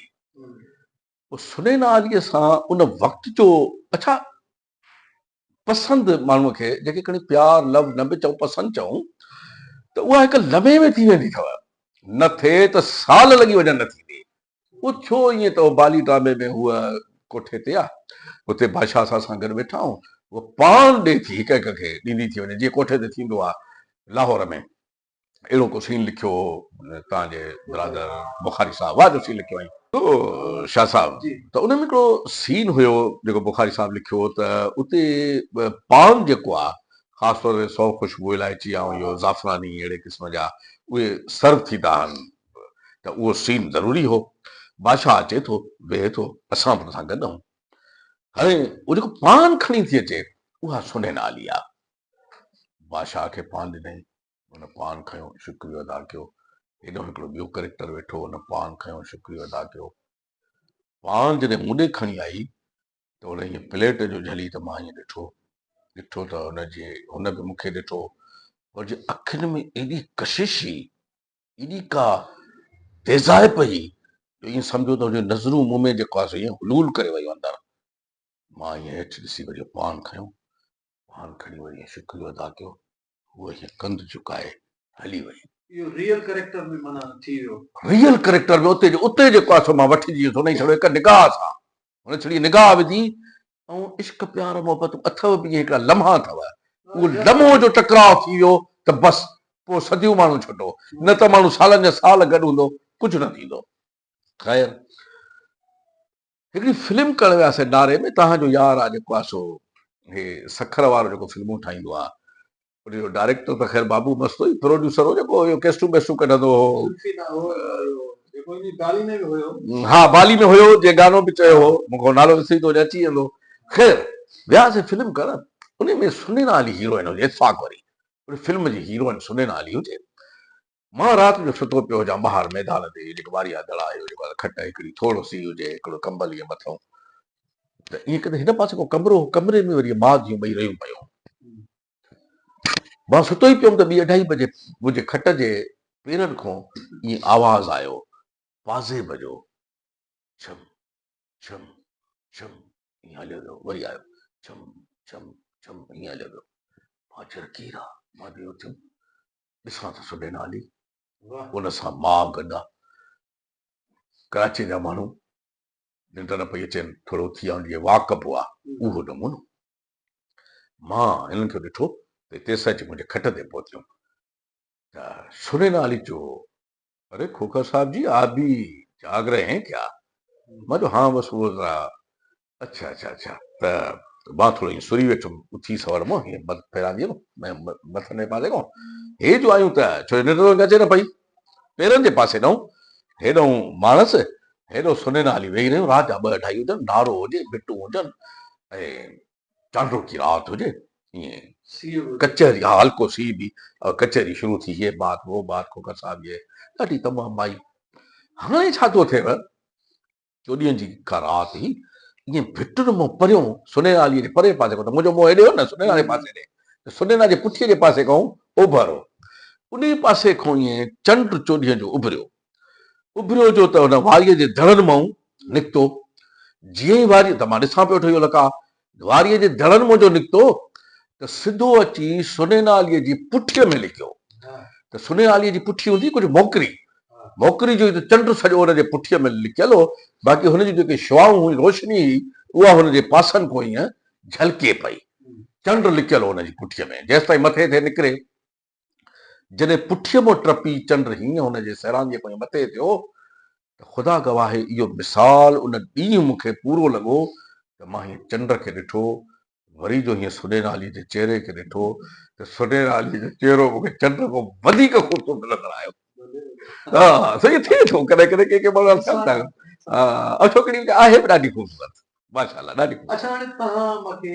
[SPEAKER 2] پوء سنئين عالي سان ان وقت جو اڇا پسند ماڻهو کي جيڪي کڻي پيار لو نه به چئون پسند چئون ته اها هڪ لمحي ۾ ٿي ويندي اٿو نه ٿئي ته سال لڳي وڃن نه ٿيندي پوء ٿيو ائين ته بالي ڊرامي ۾ هوء ڪوٺي تي آ اتي بادشاهه اسان سان گڏ ويٺا آهون هوء پاڻ ڏي ٿي هڪ هڪ کي ڏيندي ٿي وڃي جيئن ڪوٺي تي ٿيندو آ لاهور ۾ اهڙو ڪو سين لکيو هو توهان جي برادر بخاري صاحب واهه جو سين لکيو هئائين. شاهه صاحب ته ان ۾ هڪڙو سين هيو جيڪو بخاري صاحب لکيو هو ته اتي پان جيڪو آ خاص طور تي سو خوشبو الائچي ۽ اهو زعفراني اهڙي قسم جا اهي سرو ٿيندا آهن ته اهو سين ضروري هو بادشاهه اچي ٿو ويهي ٿو اسان به ان سان گڏ آهون هاڻي اهو جيڪو پان کڻي ٿي اچي اها سونهن آلي آ بادشاهه کي پان ڏنائين، هن پان کنيو شڪريو ادا ڪيو، هيڏو هڪڙو ٻيو ڪريڪٽر ويٺو هو، هن پان کنيو شڪريو ادا ڪيو، پان جڏهن مون ڏي کڻي آئي ته هن ائين پليٽ جو جهلي ته مان ائين ڏٺو، ڏٺو ته هن جي هن به مون کي ڏٺو، پر جي اکين ۾ ايڏي ڪشش هئي، ايڏي ڪا تيزائپ هئي جو ائين سمجهو ته هن جون نظرون مون ۾ جيڪو آهي سو ائين حلول ڪري ويو اندر، مان ائين هيٺ ڏسي وري پان کنيو، پاڻ کڻي وري ۽ شڪريو ادا ڪيو هوء ائين ڪنڌ جهڪائي هلي وئي. اهو ريئل ڪريڪٽر ۾ معنيٰ ٿي
[SPEAKER 1] ويو. ريئل ڪريڪٽر ۾
[SPEAKER 2] اتي جو اتي جيڪو آهي سو مان وٺي جيئن سو انهي ڇڙو هڪ نگاهه سان هن ڇڙي نگاهه وڌي ۽ عشق پيار محبت اٿئو به ائين هڪڙا لمحا اٿئو اهو لمحو جو ٽڪراء ٿي ويو ته بس پوء صديون ماڻهو ڇٽو نه ته ماڻهو سالن جا سال گڏ هوندو ڪجهه نه ٿيندو خير هڪڙي فلم ڪرڻ وياسين ڊاري ۾ توهان جو يار آ جيڪو آ سو هي سکر وارو جيڪو فلمون ٺاهيندو آ ان جو ڊائريڪٽر ته خير بابو مست هو پروڊيوسر هو جيڪو اهو ڪيسٽون بيسٽون ڪڍندو هو ها بالي ۾ هيو جي گانو به چيو هو مون کي نالو وسري ٿو وڃي اچي ويندو خير وياسين فلم ڪرڻ ان ۾ سنينا علي هيروئن هجي اتفاق وري ان فلم جي هيروئن سنينا علي هجي مان رات جو ستو پيو هجان ٻاهر ميدان تي جيڪو واريا دڙا آهي جيڪو آهي کٽ هڪڙي ٿورو سي هجي هڪڙو ڪمبل ائين مٿئون ته ائين ڪندي هن پاسي ڪو ڪمرو هو ڪمري ۾ وري ماء ڌيون ٻئي رهيون پيون مان ستو ئي پيم ته ٻي اڍائي بجي منهنجي کٽ جي پيرن کون ائين آواز آيو پازيب جو ڇم ڇم ڇم ائين هليو ويو وري آيو ڇم ڇم ڇم ائين هليو ويو مان چيو ڪير آ مان بيهوش ٿيم ڏسان ٿو سندي نالي ان سان ماء گڏا ڪراچي جا ماڻهو ننڊ نه پئي اچين ٿورو اٿي آن جي واڪ اپ هئا اهو نمونو مان هنن کي ڏٺو ته تيسان اچي منهنجي کٽ تي پهتيم ته سني نالي جو اري کوکر صاحب جي آپ بي جاگ رهي هين ڪيا؟ مان چيو هان بس اهو ذرا اڇا اڇا اڇا ته مان ٿورو ائين سري ويٺم اٿي سوڙ مان هيئن مٿ ڦيرائندي هيم مٿلهين پاسي کان هي جو آيون ته ڇو جو ننڊ ته اچي نه پئي پيرن جي پاسي ڏانهن هيڏانهن ماڻس هيڏو سنينا هلي ويهي رهيون رات جا ٻه اڍائي هجن نارو هجي ڀٽون هجن ۽ چانڊوڪي رات هجي ائين ڪچهري ها هلڪو سي به ڪچهري شروع ٿي هي بات هو بات کو ڪسا به ڏاڍي تمام مائي هاڻي ڇا ٿو ٿئي چوڏهين جي ڪا رات هي ائين ڀٽن مون پريون سنيرالي جي پري پاسي ڪو منهنجو منهن هيڏي هو نه سنيرا جي پاسي ڏي سنيرا جي پٺي جي پاسي کان اوڀر هو انهي پاسي کان ائين چنڊ چوڏهين جو اڀريو اڀريو جو ته ان واريء جي دڙن منهن نڪتو. جيئن ئي واريء ته مان ڏسان پيو ٺهيو لڪا واريء جي دڙن منهن جو نڪتو ته سڌو اچي سنيناليء جي پٺيء ۾ لڪيو ته سنيناليء جي پٺي هوندي ڪجهه موڪري موڪري جو ئي ته چنڊ سڄو ان جي پٺيء ۾ لڪيل هو باقي هن جون جيڪي شعائون هيون روشني هئي اها هن جي پاسن کان هيئن جهلڪي پئي چنڊ لڪيل هو ان جي پٺيء ۾ جيستائين مٿي ٿي نڪري. جڏهن پٺيء مان ٽپي چنڊ هينئن هن جي سيرانگيء کان مٿي ٿيو ته خدا گواهه آهي اهو مثال ان ڏينهن مون کي پورو لڳو ته مان هينئن چنڊ کي ڏٺو وري جو هينئن سنيرا عليء جي چهري کي ڏٺو ته سنيرا عليء جو چهرو مون کي چنڊ کان وڌيڪ خوبصورت نظر آيو. سائين ٿئي ٿو ڪڏهن ڪڏهن ڪي ڪي ماڻهو ٿين ٿا ۽ ڇوڪري آهي به ڏاڍي خوبصورت ماشاءالله ڏاڍي خوبصورت. اڇا هاڻي توهان
[SPEAKER 1] مون کي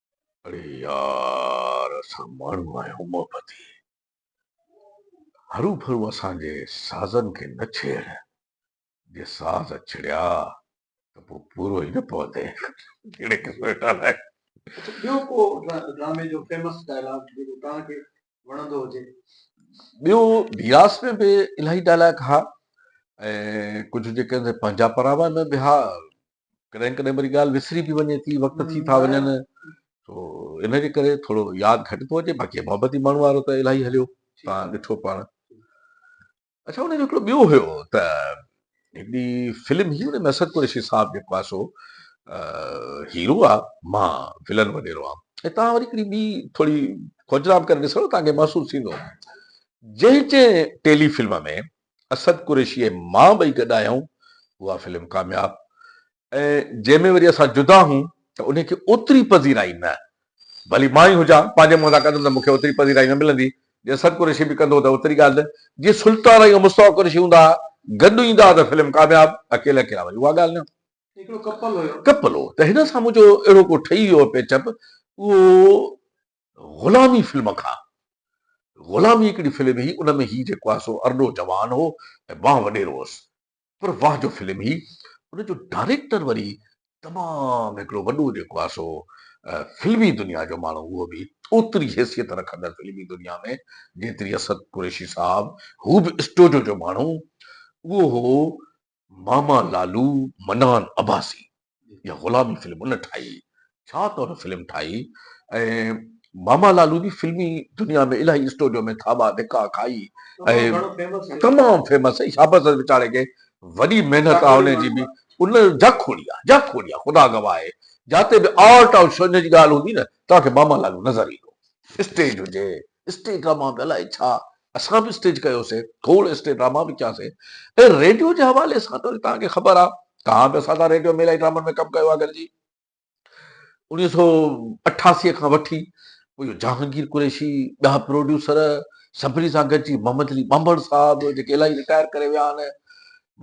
[SPEAKER 1] اڙي يار اسان ماڻهو آهيون محبتي هرو ڀرو اسان جي سازن کي نه ڇيڙ جي ساز ڇڙيا ته پوء پورو ئي نه پوندين جهڙي قسم جو ٽالائي. اچا ٻيو ڪو ڊرامي جو فيمس ڊائلاگ جيڪو توهان کي وڻندو هجي. ٻيو بياس ۾ به الاهي ڊائلاگ ها ۽ ڪجهه جيڪي پنهنجا پراوا ۾ به ها ڪڏهن ڪڏهن وري ڳالهه وسري به وڃي ٿي وقت ٿي ٿا وڃن سو ان جي ڪري ٿورو ياد گهٽ ٿو اچي باقي محبتي ماڻهو وارو ته الاهي هليو تان ڏٺو پاڻ اچھا ان جو هڪڙو ٻيو هيو ته هڪڙي فلم هي ان ۾ اسد قريشي صاحب جيڪو آ سو هيرو آ مان ولن وڏيرو آ ۽ تان وري هڪڙي ٻي ٿوري کوجرام ڪري ڏسو تان کي محسوس ٿيندو جنهن
[SPEAKER 2] جنهن ٽيلي فلم ۾ اسد قريشي ۽ مان ٻئي گڏ آيائون اها فلم ڪامياب ۽ جنهن ۾ وري اسان جدا هون ته انهي کي اوتري پذيرائي نه ڀلي مان ئي هجان پنهنجي منهن سان ڪندم ته مون کي اوتري پذيرائي نه ملندي جي اسد قريشي به ڪندو ته اوتري ڳالهه نه جي سلطان ۽ مصطفيٰ قريشي هوندا ها گڏ ايندا ها ته فلم ڪامياب اڪيلا اڪيلا وري اها ڳالهه نه هڪڙو ڪپل هيو
[SPEAKER 1] ڪپل هو ته هن سان
[SPEAKER 2] منهنجو اهڙو ڪو ٺهي ويو هو پيچ اپ اهو غلامي فلم کان. غلامي هڪڙي فلم هئي ان ۾ هي جيڪو آهي سو ارڏو جوان هو ۽ مان وڏيرو هوس پر واه جو فلم هئي ان جو ڊائريڪٽر وري تمام هڪڙو وڏو جيڪو آهي سو فلمي دنيا جو ماڻهو اهو به اوتري حيثيت رکندڙ فلمي دنيا ۾ جيتري اسد قريشي صاحب هو به اسٽوڊيو جو ماڻهو اهو هو ماما لالو منان عباسي جا غلامي فلم ان ٺاهي ڇا ته ان فلم ٺاهي ۽ ماما لالو جي فلمي دنيا ۾ الاهي اسٽوڊيو ۾ ٿاٻا ڌڪا کائي ۽ تمام فيمس ۽ شابس اٿس ويچاري کي وڏي محنت آ ان جي به ان جا کوڙي آ جا کوڙي آ خدا گواهه آهي جاتي به آرٽ آ شو ان جي ڳالهه هوندي نه توهان کي ماما لالو نظر ايندو اسٽيج هجي اسٽيج ڊراما به الائي ڇا اسان به اسٽيج ڪيوسي کوڙ اسٽيج ڊراما به ڪياسي ۽ ريڊيو جي حوالي سان ته توهان کي خبر آ توهان به اسان سان ريڊيو ۾ الائي ڊرامن ۾ ڪم ڪيو آ گڏجي انويهه سو اٺاسي کان وٺي پوء اهو جهانگير قريشي ٻيا پروڊيوسر سڀني سان گڏجي محمد علي ٻانڀڻ صاحب جيڪي الائي رٽائر ڪري ويا آهن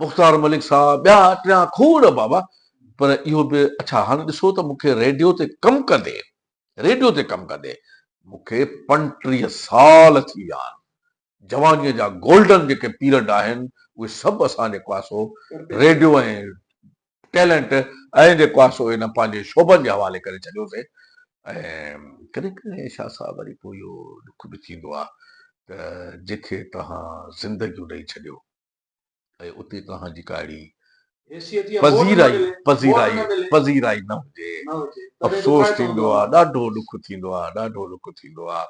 [SPEAKER 2] مختار ملڪ صاحب ٻيا ٽيا کوڙ بابا پر اهو به اڇا هاڻ ڏسو ته مون کي ريڊيو تي ڪم ڪندي ريڊيو تي ڪم ڪندي مون کي پنٽيهه سال ٿي ويا آهن. جوانيء جا گولڊن جيڪي پيرڊ آهن اهي سڀ اسان جي ڪواسو ريڊيو ۽ ٽيلنٽ ۽ جي ڪواسو انهن پنهنجي شعبن جي حوالي ڪري ڇڏيوسي ۽ ڪڏهن ڪڏهن شاهه صاحب وري پوء اهو ڏک به ٿيندو آهي ته جيڪي توهان زندگيون ڏئي ڇڏيو. ۽ اتي توهان جي ڪاهڙي پذيرائي پذيرائي پذيرائي نه هجي افسوس ٿيندو آهي ڏاڍو ڏک ٿيندو آهي ڏاڍو ڏک ٿيندو آهي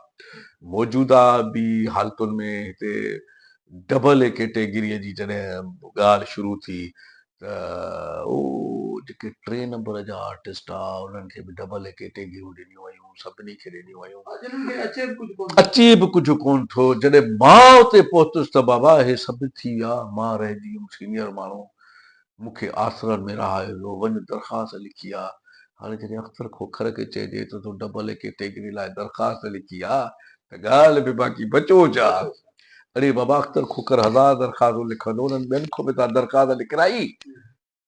[SPEAKER 2] موجوده به حالتن ۾ هتي ڊبل ڪيٽيگريء جي جڏهن ڳالهه شروع ٿي ته هو جيڪي ٽي نمبر جا آرٽسٽ آ انهن کي به ڊبل هڪي ٽيگيون ڏنيون ويون سڀني کي ڏنيون ويون اچي به ڪجهه ڪون ٿو جڏهن مان اتي پهتس ته بابا هي سڀ ٿي ويا مان رهجي ويم سينيئر ماڻهو مون کي آسرن ۾ رهايو ويو وڃ درخواست لکي آ هاڻي جڏهن اختر کوکر کي چئجي ته تون ڊبل هڪي ٽيگري لاء درخواست لکي آ ته ڳالهه به باقي بچوچ آ. اڙي بابا اختر کوکر هزار درخواستون لکندو انهن ٻين کان به ته درخواست لکرائي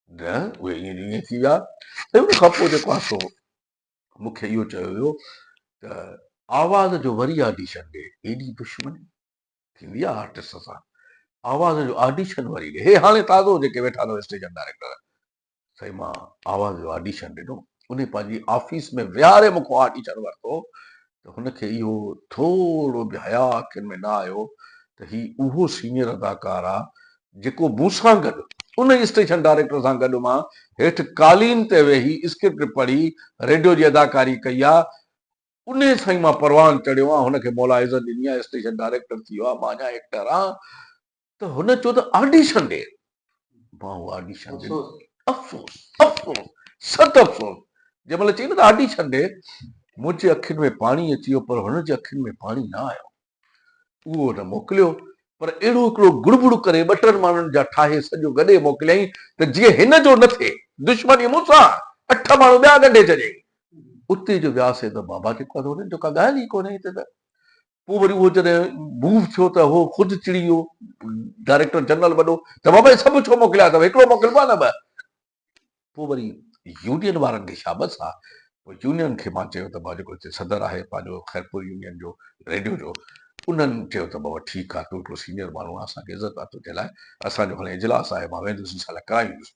[SPEAKER 2] نه اهي ائين جو ائين ٿي ويا ۽ ان کان پوء جيڪو آسو مون کي اهو چيو ويو ته آواز جو وري آڊيشن ڏي ايڏي دشمني ٿيندي آهي آرٽسٽ سان آواز جو آڊيشن وري ڏي هي هاڻي تازو جيڪي ويٺا اٿو اسٽيشن ڊائريڪٽر سائين مان آواز جو آڊيشن ڏنو انهي پنهنجي آفيس ۾ ويهاري مون کان آڊيشن ورتو ته هن کي اهو ٿورو به حياء اکين ۾ نه آيو ته هي اهو سينيئر اداڪار آ جيڪو مون سان گڏ انهي اسٽيشن ڊائريڪٽر سان گڏ مان هيٺ قالين تي ويهي اسڪرپٽ پڙهي ريڊيو جي اداڪاري ڪئي آ انهي سائين مان پروان چڙهيو آ هن کي مولا عزت ڏني آ اسٽيشن ڊائريڪٽر ٿي ويو آ مان اڃا ايڪٽر آ ته هن چيو ته آڊيشن ڏي ماهو آڊيشن ڏنو افسوس افسوس ست افسوس جنهن مهل چئي نه ته آڊيشن ڏي منهنجي اکين ۾ پاڻي اچي ويو پر هن جي اکين ۾ پاڻي نه آيو اهو هن موڪليو پر اهڙو هڪڙو گڙبڙ ڪري ٻه ٽن ماڻهن جا ٺاهي سڄو ڳڏي موڪليائين ته جيئن هن جو نه ٿئي دشمني مون سان اٺ ماڻهو ٻيا ڳنڍي ڇڏيائين اتي جو وياسين ته بابا جيڪو آهي ته هن جو ڪا ڳالهه ئي ڪونهي هتي ته پوء وري اهو جڏهن موو ٿيو ته هو خود چڙي ويو ڊائريڪٽر جنرل وڏو ته بابا هي سڀ ڇو موڪليا اٿم هڪڙو موڪلبو آهي نه ٻه پوء وري يونين وارن کي شابس آ پوء يونين کي مان چيو ته بابا جيڪو هتي صدر آهي پنهنجو خيرپور يونين جو ريڊيو جو انهن چيو ته بابا ٺيڪ آ تون هڪڙو سينيئر ماڻهو آهين اسان کي عزت آ تنهنجي لاء اسان جو هاڻي اجلاس آهي مان ويندس ان سان لاء ڪرائيندس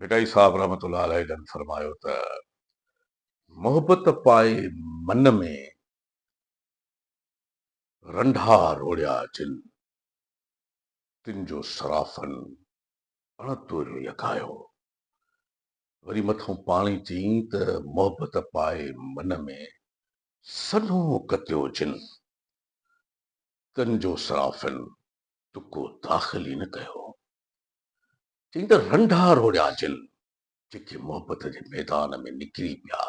[SPEAKER 2] ڀٽائي صاحب رحمة الله عليه جن فرمايو ته، محبت پائي من ۾، رنڍا روڙيا جن، تن جو سرافن اڻ توريو يڪايو. وري مٿئون پاڻي چيائين ته، محبت پائي من ۾، سنهو ڪتيو جن، تن جو سرافن تڪو داخل ئي نه ڪيو. چئين ته رنڊا روڙيا جن، جيڪي محبت جي ميدان ۾ نڪري پيا،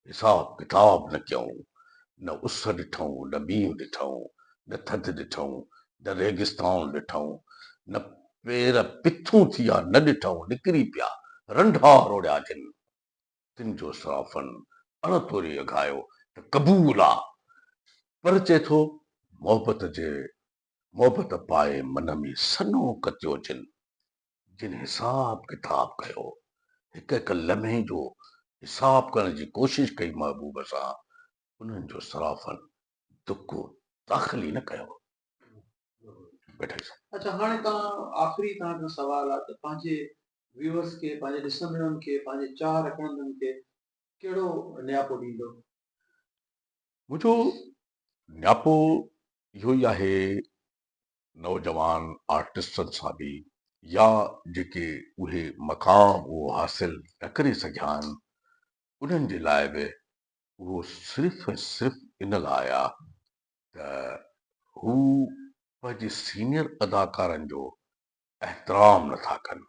[SPEAKER 2] حساب ڪتاب نه ڪيائون، نه اس ڏٺائون، نه مينهن ڏٺائون، نه ٿڌ ڏٺائون، نه ريگستان ڏٺائون، نه پير پٿون ٿيا، نه ڏٺائون، نڪري پيا، رنڊا روڙيا جن. تن جو صرافن اڻ توري اگهايو ته قبول آ، پر چئي ٿو محبت جي محبت پائي من ۾ سنو ڪتيو جن جن حساب ڪتاب ڪيو هڪ هڪ لمحي جو حساب ڪرڻ جي ڪوشش ڪئي محبوب سان انهن جو سرافن دڪو داخل ئي نه ڪيو ويٺل سان. اچا هاڻي
[SPEAKER 1] تان آخري تان کان سوال آ ته پنهنجي ويورس کي پنهنجي ڏسندڙن کي پنهنجي چاهه رکندن کي ڪهڙو نياپو ڏيندو؟ منهنجو
[SPEAKER 2] نياپو اهو ئي آهي نوجوان آرٽسٽن سان به يا جيڪي اهي مقام اهو حاصل نه ڪري سگهيا آهن انهن جي لاء به اهو صرف ۽ صرف ان لاء آ ته هو پنهنجي سينيئر اداڪارن جو احترام نه ٿا ڪن.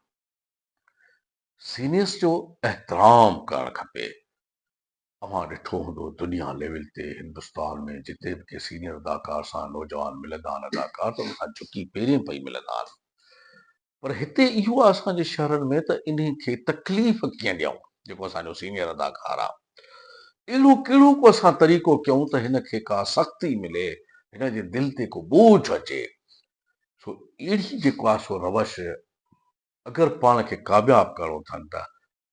[SPEAKER 2] سينيئرس جو احترام ڪرڻ کپي اوهان ڏٺو هوندو دنيا ليول تي هندستان ۾ جتي به ڪي سينيئر اداڪار سان نوجوان ملندا آهن اداڪار ته ان کان جهڪي پيرين پئي ملندا آهن پر هتي اهو آهي اسان جي شهرن ۾ ته انهن کي تڪليف ڪيئن ڏيون جيڪو اسان جو سينيئر اداڪار آهي اهڙو ڪهڙو ڪو اسان طريقو ڪيون ته هن کي ڪا سختي ملي هن جي دل تي ڪو ٻوجهه اچي سو اهڙي جيڪو آهي سو روش اگر پاڻ کي ڪامياب ڪرڻو اٿن ته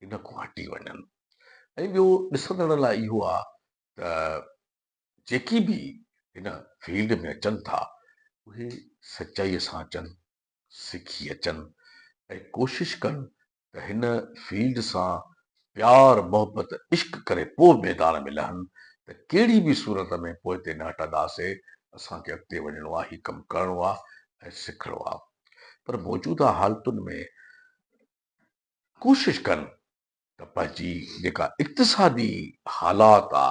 [SPEAKER 2] ان کان هٽي وڃن ۽ ٻيو ڏسندڙن لاء اهو آ ته جيڪي به هن فيلڊ ۾ اچن ٿا اهي سچائي سان اچن سکي اچن ۽ ڪوشش ڪن ته هن فيلڊ سان پيار محبت عشق ڪري پوء ميدان ۾ لهن ته ڪهڙي به صورت ۾ پوئتي نه هٽنداسي اسان کي اڳتي وڃڻو آ هي ڪم ڪرڻو آ ۽ سکڻو آ. پر موجوده حالتن ۾ ڪوشش ڪن ته پنهنجي جيڪا اقتصادي حالات آ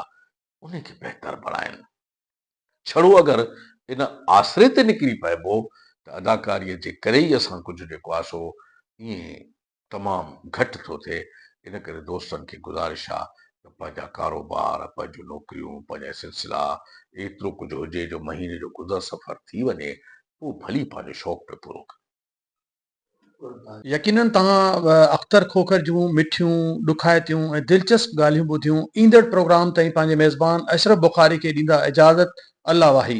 [SPEAKER 2] ان کي بهتر بڻائن. ڇڙو اگر ان آسري تي نڪري پئبو ته اداڪاريء جي ڪري ئي اسان ڪجهه جيڪو آ سو ائين تمام گهٽ ٿو ٿئي ان ڪري دوستن کي گذارش آ ته پنهنجا ڪاروبار پنهنجون نوڪريون پنهنجا سلسلا ايترو ڪجهه هجي جو مهيني جو گذر سفر ٿي وڃي پوء ڀلي پنهنجو شوق پي پورو ڪريو. يقينن
[SPEAKER 1] توهان به اختر کوکر جون مٺيون، ڏکائتيون ۽ دلچسپ ڳالهيون ٻڌيون ايندڙ پروگرام تائين پنهنجي ميزبان اشرف بخاري کي ڏيندا اجازت الله واهي.